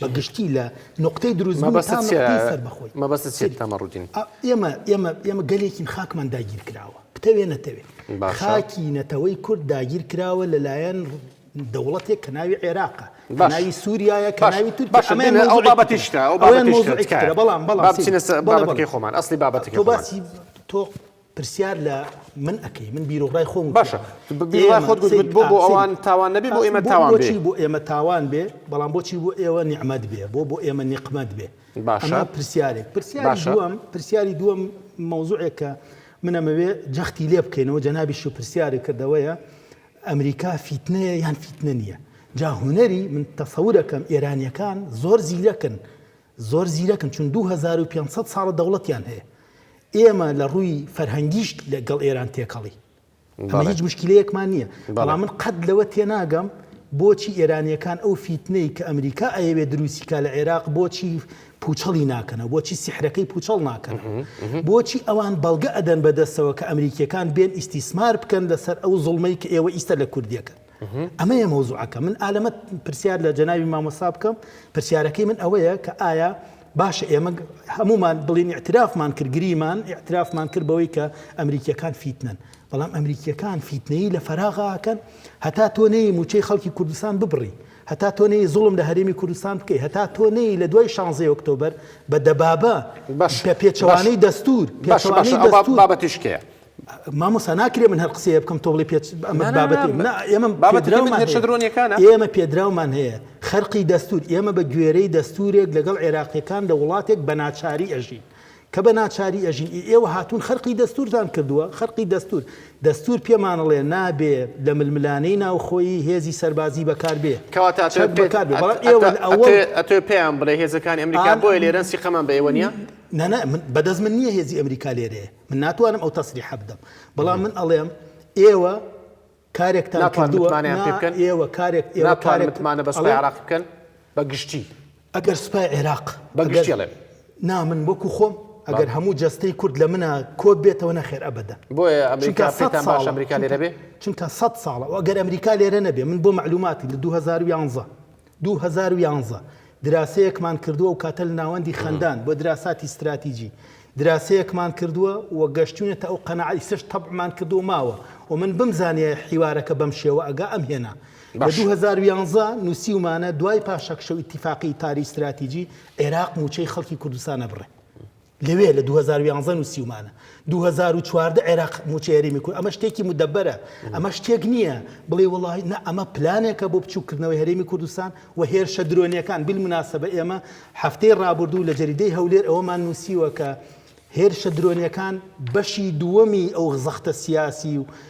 [SPEAKER 3] بە گشتی لە نقطەی دروست مەبەست چێت تەمەڕودین
[SPEAKER 1] ئێمە ئێمە
[SPEAKER 3] ئێمە گەلێکین خاکمان داگیر کراوە بتەوێ نەتەوێت خاکی نەتەوەی کورد داگیر کراوە لەلایەن دەوڵەتێک کە ناوی عێراقە ناوی سووریایە کە ناوی تور ئەو بابەتیشتە ئەو بابەتیشتە
[SPEAKER 1] بەڵام بەڵام بچینە بابەتەکەی خۆمان ئەسلی بابەتەکە باسی تۆ
[SPEAKER 3] پرسیار لە من ئەکەی من بیرۆڕای خۆم باشە بیرۆڕای
[SPEAKER 1] خۆت گوت بۆ بۆ ئەوان تاوان نەبی بۆ ئێمە تاوان بێ بۆچی بۆ ئێمە تاوان بێ
[SPEAKER 3] بەڵام بۆچی بۆ ئێوە نیعمەت بێ بۆ بۆ ئێمە نیقمەت بێ باشە پرسیارێک پرسیاری دووەم پرسیاری دووەم مەوزوعێکە منەمەوێ جەختی لێ بکەینەوە جەنابیش و پرسیاری کردەوەیە ئەمریکا فیتنەیە یان فیتنە نییە جا هوەری من تەسەورەکەم ئێرانیەکان زۆر زیرەکن زۆر زیرەکن چون دوو هەزار و پێنج سەد ساڵە دەوڵەتیان هەیە ئێمە لە ڕووی فەرهەنگیش لە گەڵ ئێران تێکەڵی ئەمە هیچ مشکلەیەکمان نییە بەڵام من قەت لەوە تێناگەم بۆچی ئێرانیەکان ئەو فیتنەی کە ئەمریکا ئەیەوێ دروستیکا لە عێراق بۆچی پوچەڵی ناکەنە بۆچی سحرەکەی پوچەڵ ناکەن بۆچی ئەوان بەڵگە ئەدەن بەدەستەوە کە ئەمریکیەکان بێن ئیسیسمار بکەن لەسەر ئەو زڵمەی کە ئێوە ئیستا لە کوردیەکەن ئەمەیە مەوزوعەکە من ئالەمە پرسیار لە جەناوی مامۆسا بکەم پرسیارەکەی من ئەوەیە کە ئایا باشە ئێمە هەمومان بڵین اعترافمان کرد گریمان اعترافمان کرد بەوەی کە ئەمریکیەکان فیتنن بەڵام ئەمریکیەکان فیتنەی لە فەراغاکەن هەتا تۆ نەی موچەی خەڵکی کوردستان ببڕی هەتا تۆ نەی زوڵم لە هەرێمی کوردستان بکەی هەتا تۆ نەی لە دوای شانزی ئۆکتۆبەر بە دەبابە بە پێچوانەی دەستور بابەتیشکەیە مامۆستا ناکرێ من هەر قسەیە بکەم تۆ بڵی پێ ئەمە بابەتی ئێمەێشە درۆنیەکانە ئێمە پێدراومان هەیە خەرقی دەستور ئێمە بە گوێرەی دەستورێک لەگەڵ عێراقیەکان لە وڵاتێک بە ناچاری ئەژین کە بە ناچاری ئەژین ئێوە هاتوون خەرقی دەستورتان کردووە خەرقی دەستور دەستور پێمانڵێ نابێ لە ململانەی ناوخۆی هێزی سەربازی بەکار بێ کەواتە
[SPEAKER 1] ئەتۆ پێیان بڵێ هێزەکان ئەمریکا بۆی لێرەن سیقەمان بە ئێوە نیە نەنە بەدەست
[SPEAKER 3] من نییە هێزی ئەمریکا لێرێ من ناتوانم ئەو تەسریحە بدەم، بەڵام من ئەڵێم ئێوە کارێکتان کردووە، ئێوە کارێک، ئێوە
[SPEAKER 1] کارێک، ئەگەر سوپای
[SPEAKER 3] عێراق،
[SPEAKER 1] نا من وەکو
[SPEAKER 3] خۆم ئەگەر هەموو جەستەی کورد لە منا کۆ بێتەوە نەخێر ئەبەدەن،
[SPEAKER 1] چونکە سەد ساڵە
[SPEAKER 3] ئەگەر ئەمریکا لێرە نەبێ، من بۆ مەعلوماتی لە دوو هەزار و یانزە دوو هەزار و یانزە، دراسەیەکمان کردووە و کاتە لە ناوەندی خەندان بۆ دراساتی ستراتیجی دراسەیەکمان کردووە و گەشتوینەتە ئەو قەناعە ئیسەش تەبعمان کردووە و ماوە و من بمزانیایە حیوارەکە بەم شێوە ئەگا ئەم هێنا لە دوو هەزار و یانزە نوسیومانە دوای پاشەکشە و ئیتیفاقی پاریس ستراتیجی عێراق موچەی خەڵکی کوردستان ئەبڕێ لەوێ لە دوو هەزار و یانزە نووسیومانە دوو هەزار و چواردە عێراق موچە هەرێمی کورد ئەمە شتێکی مدەبەرە ئەمە شتێک نییە بڵێ وڵی نە ئەمە پلانێکە بۆ بچووکردنەوەی هەرێمی کوردستان و هێرشە درۆنیەکان بیل مناسبە ئێمە هەفتەی ڕابردوو لە جەریدەی هەولێر ئەوەمان نووسیوە کە هێرشە درۆنیەکان بەشی دووەمی ئەو زەختە سیاسی و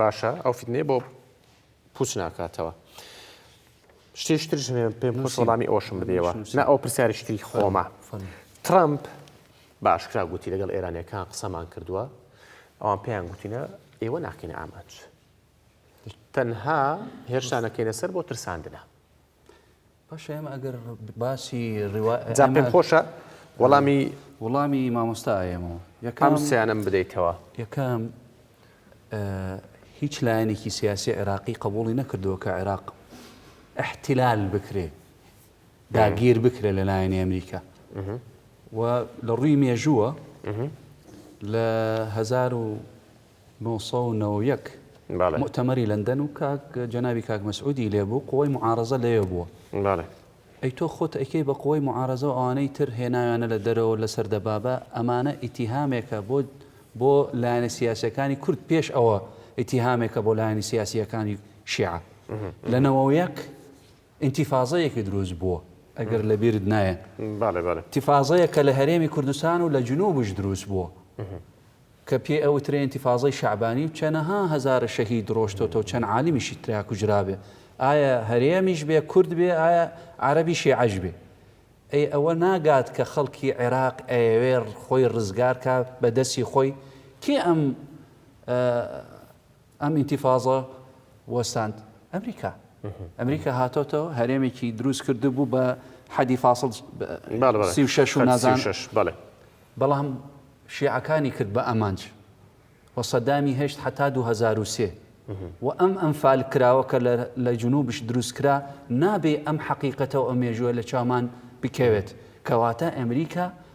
[SPEAKER 1] باشە ئەو فیتنەیە بۆ پوچ ناکاتەوە. شتێش ترش پێم خۆش وەڵامی ئەوشم بدەوە نە ئەو پرسیارش تری خۆمە ترامپ باشکرا گوتی لەگەڵ ئێرانەکان قسەمان کردووە ئەوان پێیان گوتینە ئێوە ناکەینە ئامانج تەنها هێرشانەکەینە سەر بۆ ترساندنە
[SPEAKER 2] باشە ئێمە ئەگەر باسی ڕوا جا پێم
[SPEAKER 1] خۆشە وەڵامی
[SPEAKER 2] وڵامی مامۆستا ئەیەمەوە ئەم یەکەم سیانەم
[SPEAKER 1] بدەیتەوە یەکەم
[SPEAKER 2] ئە، هیچ لایەنێکی سیاسی عێراقی قبوڵی نەکردووە کە عێراق ئیحتیلال بکرێ داگیر بکرێ لە لایەنی ئەمریکا و لە ڕووی مێژووە لە هەزار و نۆ سەد و نەوەد و یەک موئتەمەری لەندەن و کاک جەنابی کاک مەسعودی لێ بوو قوەی موعارەزە لەوێ بووە ئەی تۆ خۆت ئەیکەی بە قوەی موعارەزە و ئەوانەی تر هێناویانە لە دەرەوە لەسەر دەبابە ئەمانە ئیتیهامێکە بۆ بۆ لایەنە سیاسیەکانی کورد پێش ئەوە ئیتیهامێکە بۆ لایەنی سیاسیەکانی شیعە لە نەوە و یەک ئینتیفازەیەکی دروست بووە ئەگەر لە بیرت نایە تیفازەیە کە لە هەرێمی کوردستان و لە جنوبش دروست بووە کە پێی ئەوترێ ئینتیفازەی شەعبانی و چەنەها هەزارە شەهید رۆشتۆتە و چەند عالمیشی ترا کوژرابێ ئایا هەرێمیش بێ کورد بێ ئایا عەرەبی شێعەش بێ ئەی ئەوە ناگات کە خەڵکی عێراق ئەیەوێ خۆی رزگار کا بە دەسی خۆی کێ ئەم ئەم ئینتیفازە وەستاند ئەمریکا ئەمریکا هاتۆتەوە هەرێمێکی دروست کرد بوو بە حەدی فاصل سی و شش و نازان بەڵێ بەڵام شیعەکانی کرد بە ئەمانج و سەدامی هێشت حتا 2023 و ئەم ئەم فال کراوە کە لە جنوبش دروست کرا نابێ ئەم حقیقەتەوە ئەو مێژوە لە چامان بکەوێت کەواتە ئەمریکا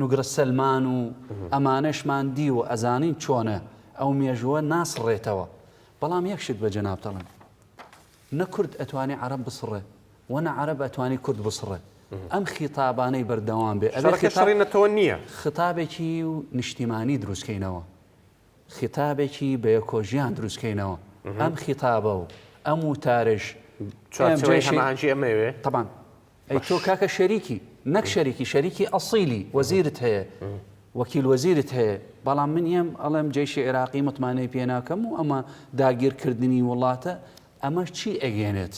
[SPEAKER 2] نوگرە سەلمان و ئەمانەشمان دیوە ئەزانین چۆنە ئەو مێژووە ناسڕێتەوە بەڵام یەک شت بە جەنابتەڵێم نە کورد ئەتوانێ عەرەب بسڕێ و نە عەرەب ئەتوانی کورد بسڕێ ئەم خیتابانەی بەردەوام بێ ئەبێ شەڕی نەتەوە نییە
[SPEAKER 1] خیتابێکی و
[SPEAKER 2] نیشتیمانی دروستکەینەوە خیتابێکی بە یەکۆژیان دروستکەینەوە ئەم خیتابە و ئەم وتارش چوارچێوەی
[SPEAKER 1] هەماهەنگی ئەمەوێ طبعا ئەی
[SPEAKER 2] تۆ کاکە شەریکی نەک شەریکی شەریکی ئەسیلی وەزیرت هەیە وەکیل وەزیرت هەیە بەڵام من ئێم ئەڵێم جێشی عێراقی متمانەی پێ ناکەم و ئەمە داگیرکردنی وڵاتە ئەمە چی ئەگەێنێت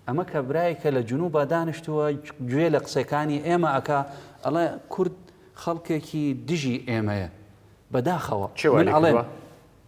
[SPEAKER 2] ئەمە کە برای کە لە جنوب بە دانیشتووە گوێ لە قسەکانی ئێمە ئەک ئەڵێ کورد خەڵکێکی دژی ئێمەیە بەداخەوە چێڵێ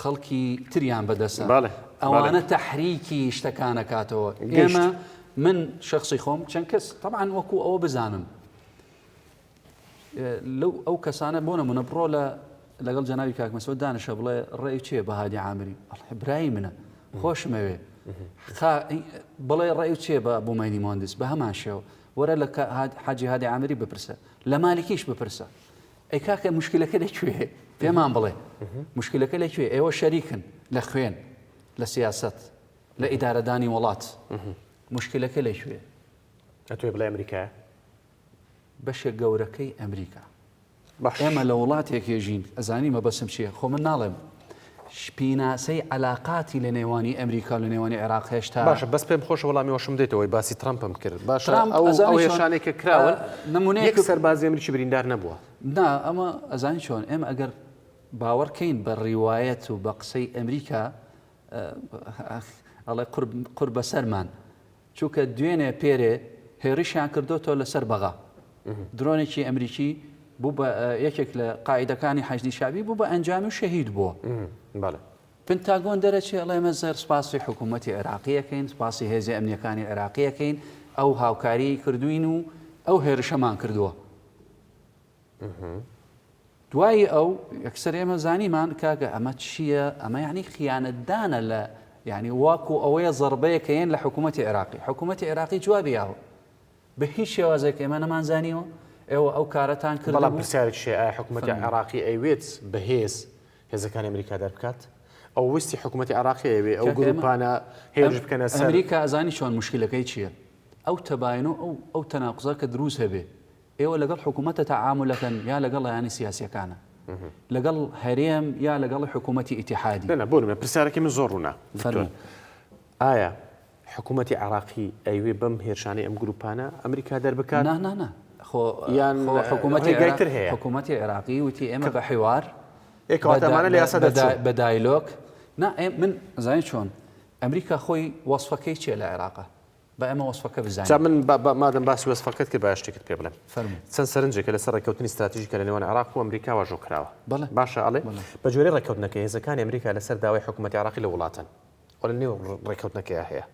[SPEAKER 2] خەڵکی تریان بەدەسە بەڵێ بەڵێ. ئەوانە تەحریکی شتەکان ئەکاتەوە ئێمە گەیشت. من شەخسی خۆم چەند کەس تەبعەن وەکو ئەوە بزانم لەو ئەو کەسانە بۆ نمونە بڕۆ لە لەگەڵ جەنابی کاک مەسعود دانیشە بڵێ ڕێی چێ بە هادی عامری ئەڵێ برای منە خۆشمەوێ خا بڵێ ڕێی و چێ بە بومەینی مهندس بە هەمان شێوە وەرە لە کە هاد- حاجی هادی عامری بپرسە لە مالکیش بپرسە ئەی کاکە مشکلەکە لە کوێ پێمان بڵێ مشکلەکە لە کوێ ئێوە شەریکن لە خوێن لە سیاست لە ئیدارەدانی وڵات مشکلەکە لە کوێ ئەتوێ
[SPEAKER 1] بڵێ ئەمریکا
[SPEAKER 2] بەشێک گەورەکەی ئەمریکا ئێمە لە وڵاتێکێژین ئەزانی مەبەسم چیە خۆ من ناڵێم پیناسەی عەلاقاتی لە نێوانی ئەمریکا و لە نێوانی عێراق هێشتا. باشە بەس پێم خۆشە وەڵامی
[SPEAKER 1] ئەوەشم بدەیتەوە وەی باسی ترەمپم کرد باشە ترامپ ئەو ئەزانی ئەو چۆن هێرشانەی کە اه، کراون نمونەیەک یەک سەربازی ئەمریکی بریندار نەبووە. نا ئەمە
[SPEAKER 2] ئەزانی چۆن ئێمە ئەگەر باوەڕ کەین بە ڕیوایەت و بە قسەی ئەمریکا اه، ئەڵێ قور قور بەسەرمان چونکە دوێنێ پێرێ هێڕشیان کردۆتەوە لەسەر بەغا درۆنێکی ئەمریکی بوو بە یەکێک لە قاعدەکانی حەجدی شابی بوو بە ئەنجامی و شەهید بووە پنتاگۆن دەرەچێ ئەڵێمە زەر سپاسی حکوومەتتی عێراقیەکەین سپاسی هێزی ئەمنیەکانی عێراقیەکەین ئەو هاوکاری کردوین و ئەو هێرشەمان کردووە دوایی ئەو یەکسەر ئێمە زانیمان کاکە ئەمە چییە ئەمە یعنی خیانەتدانە لە یعنی واکو ئەوەیە زربەیە کە یەن لە حکوومەتتی عێراقی حکوومەتتی عێراقی جوابی یاوە بە هیچ شێوازێک ئێمە نەمانزانیەوە ئێوە ئەو کارەتان کرد بەڵام پرسیارێک شێ
[SPEAKER 1] حکوومەتتی عێراقی ئەوێت بەهێز هێزەکانی ئەمریکا دەربکات ئەو وستی حکوومەتتی عراقی ئەوێ ئەو گروپانە هێرش بکەنە ئەمریکا ئەزانی چۆن
[SPEAKER 2] مشکلەکەی چییە؟ ئەو تەباین و ئەو تەناقزە کە دروست هەبێ ئێوە لەگەڵ حکومەتە تەعامولەکەن یا لەگەڵ لایەنە سیاسیەکانە؟ لەگەڵ هەرێم یا لەگەڵ حکومەتی ئیتیحادی؟ نا نا بۆ نمونە پرسیارەکەی من
[SPEAKER 1] زۆر ڕوونە دکتۆر ئایا حکومەتی عێراقی ئەیوێ بەم هێرشانەی ئەم گروپانە ئەمریکا دەربکات؟ نا نا نا خۆ
[SPEAKER 2] یان خۆ حکومەتی ڕێگای تر هەیە؟ حکومەتی عێراقی وتی ئێمە بە حیوار ئێ کەواتە ئەمانە لە یاسا دەرچوون؟ بە دایلۆک نا ئێ من ئەزانی چۆن ئەمریکا خۆی وەسفەکەی چیە لە عێراقە؟ با ئێمە وەسفەکە بزانین. جا من مادەم
[SPEAKER 1] باسی وەسفەکەت کرد با شتێکت پێ بڵێم. فەرموو. چەند سەرنجێکە لەسەر ڕێککەوتنی ستراتیژی کە لە نێوان عێراق و ئەمریکا واژۆ کراوە. بەڵێ. باشە ئەڵێ بەڵێ. بە گوێرەی ڕێککەوتنەکە هێزەکانی ئەمریکا لەسەر داوای حکوومەتی عێراقی لە وڵاتەن و لە نێو ڕێککەوتنەکەیا هەیە.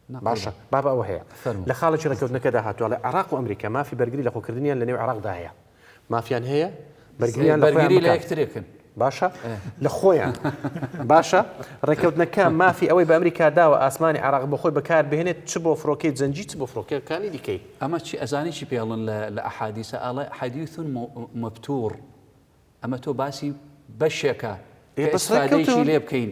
[SPEAKER 1] نا. باشە باب ئەوە هەیە. فەرموو. لە خاڵێکی ڕێککەوتنەکەدا هاتووە ئەڵێ عێراق و ئەمریکا مافی بەرگری لەخۆکردنیان لە نێو عێراقدا هەیە. مافیان هەیە بەرگریان لە خۆیان بەرگری لە بکات. یەکترێ
[SPEAKER 2] کەن. باشە
[SPEAKER 1] لە خۆیان باشە ڕێککەوتنەکە مافی ئەوەی بە ئەمریکا داوە ئاسمانی عێراق بۆ خۆی بەکار بهێنێت چ بۆ فڕۆکەی جەنگی چ بۆ فڕۆکەکانی دیکەی. ئەمە چی ئەزانی چی
[SPEAKER 2] پێڵن لە لە ئەحادیسە ئەڵێ حەدیث مو مبتور ئەمە تۆ باسی بەشێکە کە ئێ بەس ئیسفادەیەکی ڕێککەوتن. لێ بکەین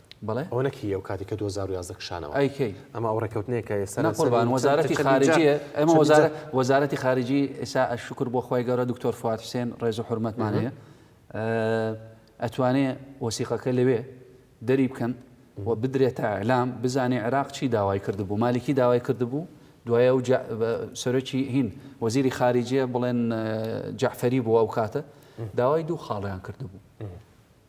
[SPEAKER 1] بەڵێ ئەوە نەک هی
[SPEAKER 2] ئەو کاتی کە
[SPEAKER 1] دوو هەزار و یازدە کشانەوە ئەی کەی ئەمە ئەو
[SPEAKER 2] ڕێکەوتنەیە کە
[SPEAKER 1] ئێستا نا قوربان وەزارەتی
[SPEAKER 2] خارجیە ئەمە وەزارە وەزارەتی خارجی ئێستا شکر بۆ خۆی گەورە دکتۆر فواد حسێن ڕێز و حرمەتمان هەیە ئەتوانێ وەسیقەکە لەوێ دەری بکەن و بدرێت تا ئەلام بزانێ عێراق چی داوای کردبوو مالیکی داوای کردبوو دوایە و سەرۆکی هین وەزیری خارجیە بڵێن جعفەری بووە ئەو کاتە داوای دوو خاڵیان کردبوو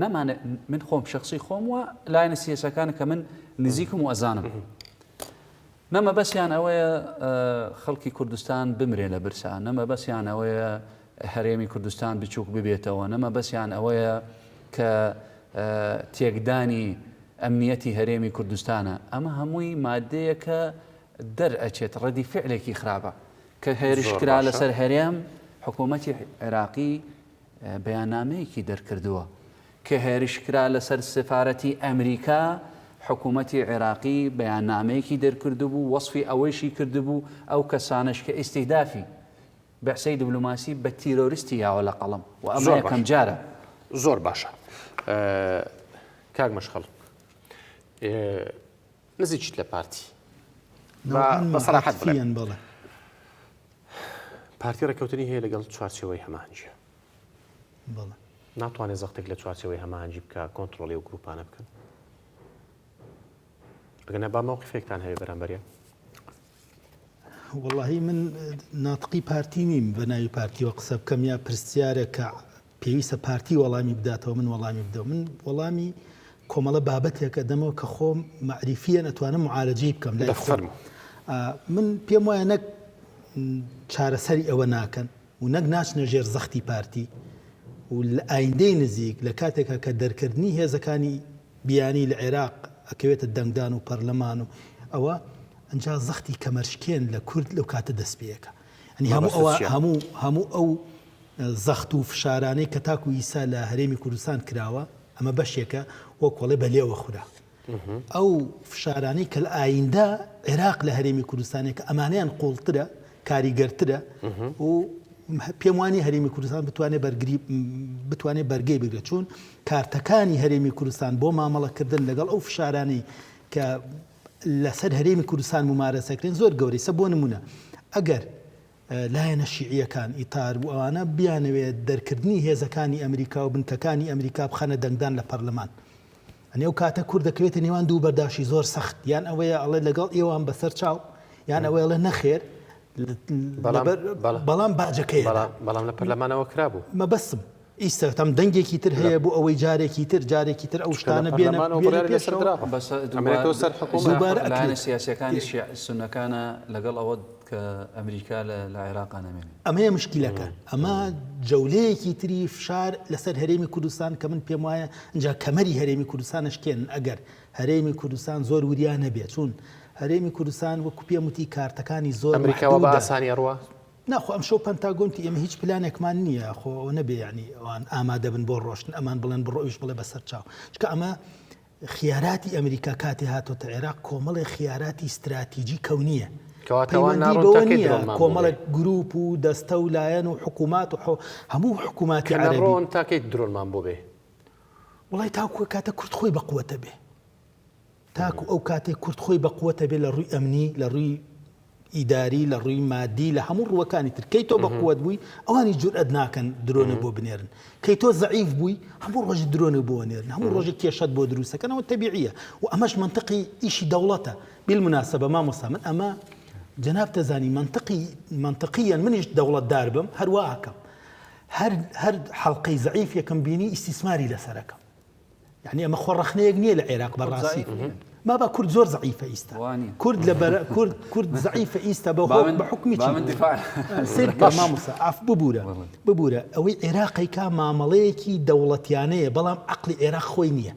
[SPEAKER 2] نەمانێ من خۆم شخصی خۆم و لایەنە سیاسەکان کە من نزیکم و ئەزانم نەمە بەسیان ئەوەیە خەڵکی کوردستان بمرێ لە برسا نەمە بەسیان ئەوەیە هەرێمی کوردستان بچووک ببێتەوە نەمە بەسیان ئەوەیە کە تێکدانی ئەمنیەتی هەرێمی کوردستانە ئەمە هەمووی مادەیەکە دەرئەچێت ڕەدی فعلێکی خراپە کە هێرشکرا لەسەر هەرێم حکوومەتی عێراقی بەیاننامەیەکی دەرکردووە کە هێرشکرا لەسەر سفارەتی ئەمریکا، حکومەتی عێراقی بەیاننامەیەکی دەرکردبوو وەسفی ئەوەیشی کردبوو ئەو کەسانەش کە ئیستیهدافی بەعسەی دبلۆماسی بە تیرۆرستی یاوە لە قەڵەم و ئەمە یەکەم جارە. زۆر باشە
[SPEAKER 1] کاک مەشخەڵ. نزیکیت لە پارتی با بە سەراحەت
[SPEAKER 3] بڵێم
[SPEAKER 1] پارتی ڕێککەوتنی هەیە لەگەڵ چوارچەوەی هەمانجیە
[SPEAKER 3] ناتوانێت
[SPEAKER 1] زەختێک لە چوارچەوەی هەمانجی بکە کۆنتترۆلی و گروپانە بکەن ئەگەنە با مەوقفێکتان هەیە بەرامبەرە
[SPEAKER 3] وەڵاهی من ناتقی پارتی نیم بە ناوی پارتیوە قسە بکەم یا پرسیارێکە پێویستە پارتی وەڵامی بداتەوە من وەڵامی بدەم من وەڵامی کۆمەڵە بابەتێکە دەمەوە کە خۆم معریفیە نەتوانم معالجەی بکەم لای خۆم من پێم وایە نەک چارەسەری ئەوە ناکەن و نەک ناچنە ژێر زەختی پارتی و لە ئایندەی نزیک لە کاتێکا کە دەرکردنی هێزەکانی بیانی لە عێراق ئەکەوێتە دەنگدان و پەرلەمان و ئەوە ئەنجا زەختی کەمەرشکێن لە کورد لەو کاتە دەست پێەکە ئەنی هەموو ئەوە هەموو هەموو ئەو زەخت و فشارانەی کە تاکو ئیسا لە هەرێمی کوردستان کراوە ئەمە بەشێکە وەکۆڵێ بەلێوە خورا ئەو فشارانەی کە لە ئاییندە عێراق لە هەرێمی کوردستانێکە ئەمانەیان قوڵترە کاریگەرترە و پێم وانی هەرێمی کوردستان بتوانێت بەرگری بتوانێت بەرگەی بگرە چوون کارتەکانی هەرێمی کوردستان بۆ مامەڵەکردن لەگەڵ ئەو فشارانەی کە لەسەر هەرێمی کوردستان ممارەسەکرێن زۆر گەورەی سە بۆ نمونە ئەگەر لایەنە شیعییەکان، ئیتار و ئەوانە، بیانەوێ دەرکردنی هێزەکانی ئەمریکا و بنکەکانی ئەمریکا بخەنە دەنگدان لە پەرلەمان. یانی ئەو کاتە کورد دەکەوێتە نێوان دوو بەرداشی زۆر سەخت، یان ئەوەیە ئەڵێ لەگەڵ ئێوام بەسەر چاو، یان ئەوەی ئەڵێ نەخێر، لەبەر بەڵام باجەکەیەدا. بەڵام لە پەرلەمانەوە
[SPEAKER 1] کرابوو. مەبەستم
[SPEAKER 3] ئیستغتام دەنگێکی تر هەیە بۆ ئەوەی جارێکی تر جارێکی تر ئەو شتانە بێنە پێشەوە.
[SPEAKER 2] دووبارە ئەکرێت. لایەنە سیاسییەکانی شیعە سوننەکانە لەگەڵ ئەوە کە ئەمریکا لە عێراقا نەمێنێ. ئەمەیە مشکیلەکە
[SPEAKER 3] ئەمە جەولەیەکی تری فشار لەسەر هەرێمی کوردستان کە من پێم وایە ئینجا کەمەری هەرێمی کوردستانە شکێن ئەگەر هەرێمی کوردستان زۆر وریان نەبێت چوون هەرێمی کوردستان وەکو پێم وتی کارتەکانی زۆر ئەمریکاوە بە ئاسانی
[SPEAKER 1] ڕوە نا خۆ ئەمشەو
[SPEAKER 3] پەنتاگۆن تی ئێمە هیچ پلانێکمان نییە خۆ ئەوە نەبێ یانی ئەوان ئامادەبن بۆ ڕۆشتن ئەمان بڵێن بڕۆ ئەویش بڵێ بەسەر چاو چکە ئەمە خیاراتی ئەمریکا کاتی هاتۆتە عێراق کۆمەڵی خیاراتی استراتیجی کەونیە کۆمەڵک گروپ و دەستە و لایەن و حکوومات و هەموو حکووماتی ڕۆن تاکەیت
[SPEAKER 1] درۆنمان بۆ بێ وڵی
[SPEAKER 3] تاکوە کاتە کورد خۆی بەقوتە بێ تاکو ئەو کاتەی کورد خۆی بە قوت ئەبێ لە ڕووی ئەمنی، لە ڕووی ئیداری، لە ڕووی مادی، لە هەموو ڕووەکانی تر. کەی تۆ بە قوت بووی، ئەوانیش جورئەت ناکەن درۆنێ بۆ بنێرن. کەی تۆ زەعیف بووی، هەموو ڕۆژێ درۆنێ بۆ ئەنێرن، هەموو ڕۆژێ کێشەت بۆ دروست ئەکەن، ئەوە تەبیعییە و ئەمەش مەنتقی ئیشی دەوڵەتە. بالمناسبە مامۆستا من ئەمە جەنابت دەزانی مەنتقی، مەنتقیەن منیش دەوڵەتدار بم هەر وا ئەکەم. هەر هەر حەڵقەی زەعیفێکم بینی ئیستیسماری لەسەر ئەکەم. یانی ئەمە خۆ ڕەخنەیەک نییە لە عێراق بە ڕاستی مابا کورد زۆر زعیفە ئیستا کورد لە بەر کورد کورد زعیفە ئیستا بە بە حکومی ئاف ببوورە ببوورە ئەوەی عێراقی کا مامەڵەیەکی دەوڵەتیانەیە بەڵام عقلی عێراق خۆی نییە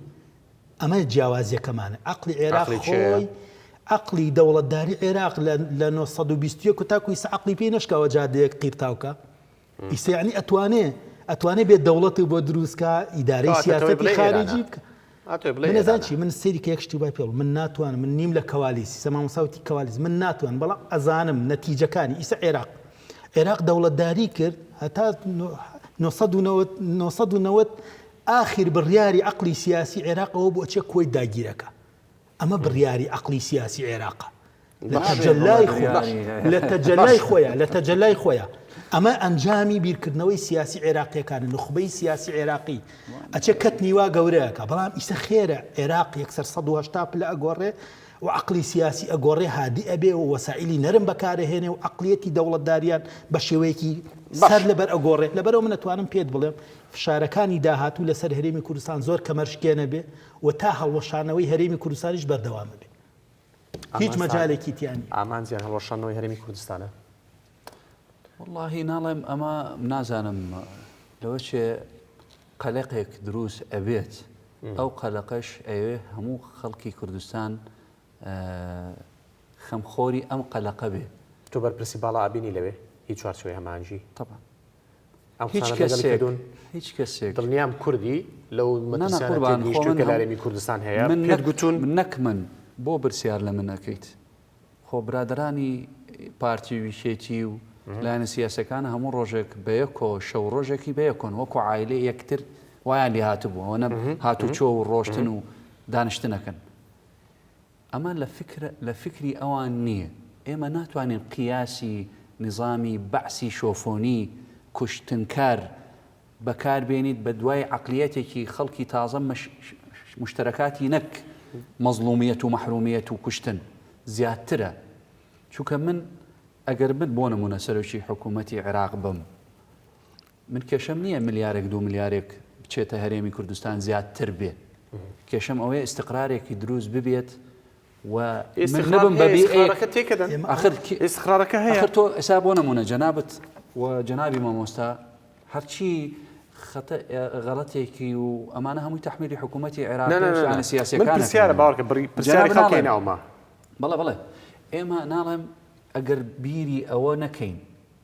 [SPEAKER 3] ئەمە جیاوازیەکەمانە عقلی عێراق خۆی عقلی دەوڵەتداری عێراق لە 1920 تاکوی سعقلی پێی نشکاوە جادەیەک قیرتاوکە ئیسە یەعنی ئەتوانێ ئەتوانێ بێ دەوڵەت بۆ دروست کا ئیدارەی کاکە تۆی سیاسەتی بڵێ ئێرانە خارجی بکە ئەتۆی بڵێ من ئێرانە نەزان چی من سەیری کە یەک شتی وای پێڵ من ناتوانم من نیم لە کەوالیس ئیسە مامۆستا وتی کەوالیس من ناتوان بەڵام ئەزانم نەتیجەکانی ئیسە عێراق عێراق دەوڵەتداری کرد هەتا نۆ نۆ سەد و نەوەد نۆ سەد و نەوەد ئاخیر بڕیاری عەقڵی سیاسی عێراق ئەوە بوو ئەچێ کۆی داگیرەکە ئەمە بڕیاری عەقڵی سیاسی عێراقە لە تەجەلای خۆیا لە تەجەلای خۆیا لە تەجەلای خۆیا ئەمە ئەنجامی بیرکردنەوەی سیاسی عێراقیەکان نخبەی سیاسی عێراقی ئەچێ کەت نیوا گەورەکە بەڵام ئیسە خێرە عێراق یەکسەر 1970 پلە ئەگۆڕێ و عقلی سیاسی ئەگۆڕێ هادی ئەبێ و وەسائلی نەرم بەکارهێنێ و عقلیەتی دەوڵەتداریان بە شێوەیەکی سەر لەبەر ئەگۆڕێ لەبەرەوە منەتوانم پێت بڵێم فشارەکانی داهاتوو لەسەر هەرێمی کوردستان زۆر کەمەرشکێنە بێ و تا هەڵوەشانەوەی هەرێمی کوردستانیش بەردەوامە بێ هیچ مەجالێکی تیا نیە. ئامانجیان هەڵوەشانەوەی
[SPEAKER 1] هەرێمی کوردستانە؟
[SPEAKER 2] وەڵاهی ناڵێم ئەمە نازانم لەوە چێ قەلەقێک دروست ئەبێت ئەو قەلەقەش ئەوێ هەموو خەڵکی کوردستان خەم خۆری ئەم قەلەقە بێ. تۆ بەرپرسی باڵا
[SPEAKER 1] ئەبینی لەوێ هی چوارچێوەی هەماهەنگی؟ تەبعەن.
[SPEAKER 2] ئەم قسانەت لەگەڵی کردوون؟
[SPEAKER 1] هیچ کەسێک. دڵنیام کوردی لەو مەترسیانە تێگەیشتووی کە لە هەرێمی کوردستان هەیە پێت گوتوون؟ من نەک من،
[SPEAKER 2] بۆ پرسیار لە من ئەکەیت؟ خۆ برادەرانی پارتی و یەکێتی و لایەنە سیاسییەکان هەموو ڕۆژێک بە یەکۆ، شەو ڕۆژێکی بە یەکۆن، وەکو عایلەی یەکتر وایان لێهاتبوو، ئەوەنە هاتوچۆ و ڕۆشتن و دانیشتن ئەکەن. ئەمە لە فکر لە فکری ئەوان نییە. ئێمە ناتوانین قیاسی نیزامی بەعسی شۆفۆنی، کوشتنکار، بەکار بێنیت بە دوای عەقلیەتێکی خەڵکی تازە مش مشترکاتی نەک مەزڵومیەت و مەحرومیەت و کوشتن زیادترە چونکە من ئەگەر من بۆ نمونە سەرۆکی حکومەتی عێراق بم، من کێشەم نییە ملیارێک دوو ملیارێک بچێتە هەرێمی کوردستان زیادتر بێت کێشەم ئەوەیە ئیستقرارێکی دروست ببێت و من نەبم بە بی ئێ. ئێسخارەکە تێکەدەن ئاخر کی- ئێسخارەکە
[SPEAKER 1] هەیە ئەخر تۆ ئێستا بۆ نمونە
[SPEAKER 2] جەنابت و جەنابی مامۆستا هەرچی خەتە غەڵەتێکی و ئەمانە هەمووی تەحمیلی حکوومەتی نا عێراق نا و نا نا. شایانە من سیاسیەکانە پرسیارە باوەڕکە
[SPEAKER 1] بڕی جەناب پرسیاری خەڵکی ناڵێم. ناومە بەڵێ بەڵێ
[SPEAKER 2] ئێمە ناڵێم ئەگەر بیری ئەوە نەکەین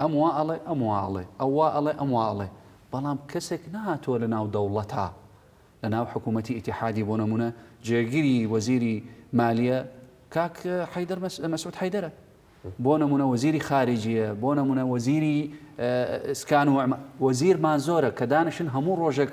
[SPEAKER 2] ئەم وا ئەڵێ ئەم وا ئەڵێ، ئەو وا ئەڵێ ئەم وا ئەڵێ، بەڵام کەسێک نەهاتووە لە ناو دەوڵەتا، لە ناو حکوومەتی ئیتیحادی بۆ نموونە جێگری وەزیری مالیە کاک حەیدەر مەسعود حەیدەرە، بۆ نموونە وەزیری خارجیە، بۆ نموونە وەزیری ئسکان و وەزیرمان زۆرە کە دانیشن هەموو ڕۆژێک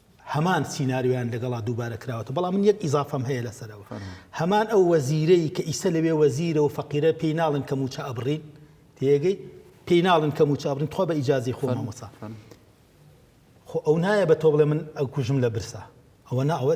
[SPEAKER 3] هەمان سیناریۆیان لەگەڵا دووبارە کراوەتە بەڵام من یەک ئیزافەم هەیە لەسەرەوە هەمان ئەو وەزیرەی کە ئیسە لەوێ وەزیرە و فەقیرە پێی ناڵن کە موچە ئەبڕین تێگەی پێی ناڵن کە موچە ئەبرین تخوا بە ئیجازی خۆ مامۆسا خۆ ئەو نایە بە تۆ بڵێ من ئەو کوژم لە برسا ئەوە ناوە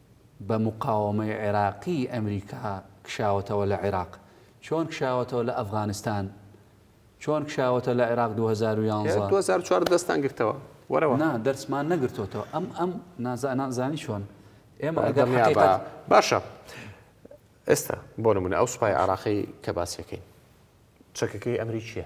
[SPEAKER 2] بە مقاوەمەی عێراقی ئەمریکا کشاوەتەوە لە عێراق چۆن کشاوەتەوە لە ئەفغانستان چۆن کشاوەتە لە عێراق دوو هەزار و یانزە دوو هەزار و چوار دەستان
[SPEAKER 1] گرتەوە وەرەوە نا دەرسمان
[SPEAKER 2] نەگرتۆتەوە ئەم ئەم نازانان زانی چۆن ئێمە ئەگەر دڵنیا بە حەقیقەت باشە
[SPEAKER 1] ئێستا بۆ نمونە ئەو سوپای عێراقی کە باسیەکەین چەکەکەی ئەمریکیە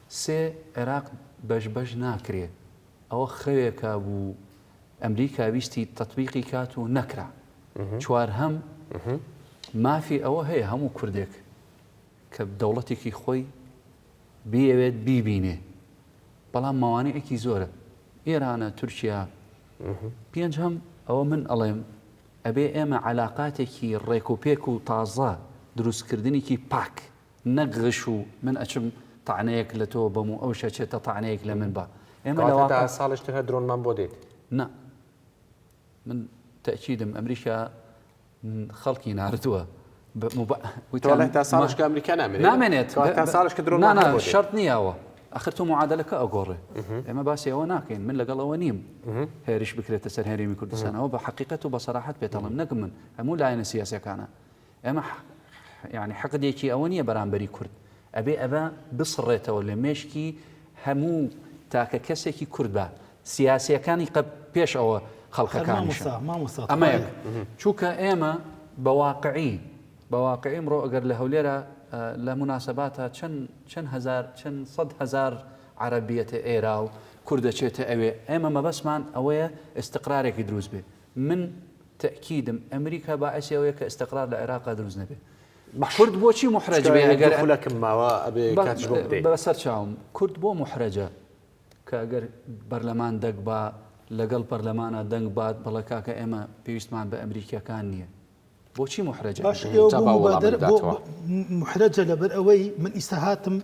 [SPEAKER 2] سێ عێراق بەش بەش ناکرێ ئەوە خەوێکە بوو ئەمریکا ویستی تەتبیقی کات و نەکرا چوار هەم مافی ئەوە هەیە هەموو کوردێک کە دەوڵەتێکی خۆی بیەوێت بیبینێ بەڵام ماوانەیەکی زۆرە ئێرانە تورکیا پێنج هەم ئەوە من ئەڵێم ئەبێ ئێمە علااقاتێکی ڕێک و پێک و تازە دروستکردنیکی پاک نەک غش و من ئەچم تەعنەیەک لە تۆ بەم و ئەوش ئەچێتە تەعنەیەک لە من با ئێمە لە واقع
[SPEAKER 1] ساڵیش تر هەر درۆنمان بۆ دێت نا
[SPEAKER 2] من تەئکیدم ئەمریکا خەڵکی ناردووە وتوانێت
[SPEAKER 1] تا ساڵش کە ئەمریکا نامێنێت نامێنێت تا
[SPEAKER 2] ساڵش کە درۆن
[SPEAKER 1] نانا شەرت نییەوە
[SPEAKER 2] ئەخر تۆ معادلەکە ئەگۆڕێ ئێمە باسی ئەوە ناکەین من لەگەڵەوە نیم هێریش بکرێتە سەر هەرێمی کوردستانەوە بە حقیقەت و بە سەراحەت پێتەڵم نەکم من هەموو لایەنە سیاسەکانە ئێمە یانی حقدێکی ئەوە نیە بەرامبەری کورد ئەبێ ئەبە بسڕێتەوە لە مێشکی هەموو تاکە کەسێکی کورد بە سیاسیەکانی قە پێش ئەوە خەڵکەکانیش ئەمە چووکە ئێمە بەواقعی بەواقعی ئەمڕۆ ئەگەر لە هەولێرە لە مناسباتە چەند چەند هزار چەند سەد هزار عربیەتە ئێرا و کوردەچێتە ئەوێ ئێمە مەبەسمان ئەوەیە ئستقرارێکی دروست بێت من تەئکیدم ئەمریکا باعسی ئەوەیە کە ئستقرار لە عێراقا دروست نەبێ. کورد بۆچی موحرەج بێ ئەگەر
[SPEAKER 1] بەسەر چاوم کورد
[SPEAKER 2] بۆ موحرەجە کە ئەگەر بەرلەمان دەک با لەگەڵ پەرلەمانا دەنگ بات بەڵە کاکە ئێمە پێویستمان بە ئەمریکیەکان نییە. بۆچی محرەجە باش ئێوە جا بۆ با وەڵامم مبادرە بۆ بداتەوە
[SPEAKER 3] محرەجە لەبەر ئەوەی من ئیستا هاتم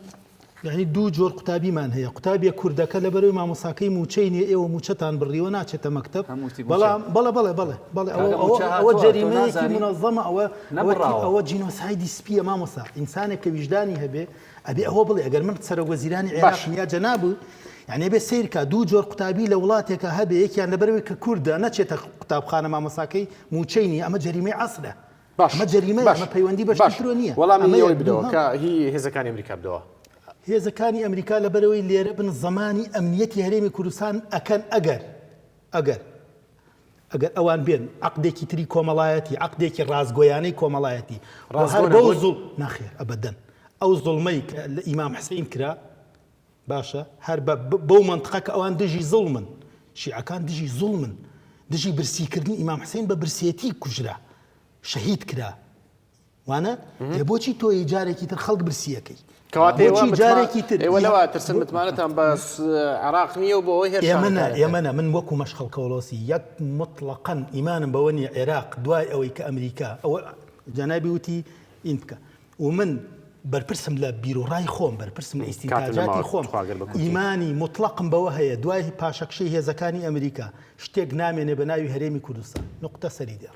[SPEAKER 3] یعنی دوو جۆر قوتابیمان هەیە قوتابیە کوردەکە لەبەرەوەی مامۆساکەی موچەی نیە ئێوە موچەتان بڕیوە ناچێتە مەکتەب هەموو شتی مووچە. بەڵام بەڵێ بەڵێ بەڵێ بەڵێ کاکە ئەوە مووچە ئەوە- ئەوە هاتووە، تۆ جەریمەیەکی نازانی؟ منەظەمە ئەوە ئەوە نەبڕاوە. ئەوە جینۆسایدی سپیە مامۆسا ئینسانێک کە ویژدانی هەبێ ئەبێ ئەوە بڵێ ئەگەر من سەرۆک وەزیرانی عێراقم یا جەنابو یعنی ئەبێ سەیر کا دوو جۆر قوتابی لە وڵاتێکا هەبێ یەکیان لەبەرەوەی کە کوردە نەچێتە قوتابخانە مامۆستاکەی مووچەی نییە ئەمە جەریمەی عەسرە ئەمە جەریمەیە ئەمە پەیوەندی بە شتی ترەوە نییە وەڵامی ئەوەی بدەوە کە
[SPEAKER 1] هی هێزەکانی ئەمریکا بدەوە هێزەکانی
[SPEAKER 3] ئەمریکا لەبەرەوەی لێرە بن زمانی ئەمنیەتی هەرێمی کوردستان ئەکەن ئەگەر ئەگەر ئەگەر ئەوان بێن عەقدێکی تری کۆمەڵایەتی، عەقدێکی ڕاستگۆیانەی کۆمەڵایەتی بۆ هەر بەو زوڵ، نەخێر ئەبەدەن ئەو زوڵمەی کە لە ئیمام حسین کرا باشە هەر بە بەو مەنتقە کە ئەوان دژی زوڵمن، شیعەکان دژی زوڵمن، دژی برسیکردنی ئیمام حسین بە برسێتی کوژرا، شەهید کرا، وانە ئێ بۆچی تۆ یی جارێکی تر خەڵک برسیەکەی کەواتە ئێوە بۆچی متما-
[SPEAKER 1] جارێکی تر ئێوە لەوە ترسن متمانەتان بە س- عێراق نییە و بۆ ئەوەی هێرشتان ئێمە نا کارەکە. ئێمە نا من وەکو
[SPEAKER 3] مەشخەڵ کەوڵۆسی یەک موتڵەقەن ئیمانم بەوە نییە عێراق دوای ئەوەی کە ئەمریکا ئەوە جەنابی وتی ئین بکە و من بەرپرسم لە بیروڕای خۆم بەرپرسم لە کاتم ئیستینتاجاتی نەماوە، خۆم تخوا گەر بە کورتی. ئیمانی موتڵەقم بەوە هەیە دوای پاشەکشەی هێزەکانی ئەمریکا شتێک نامێنێ بە ناوی هەرێمی کوردستان نوقتە سەری دێڕ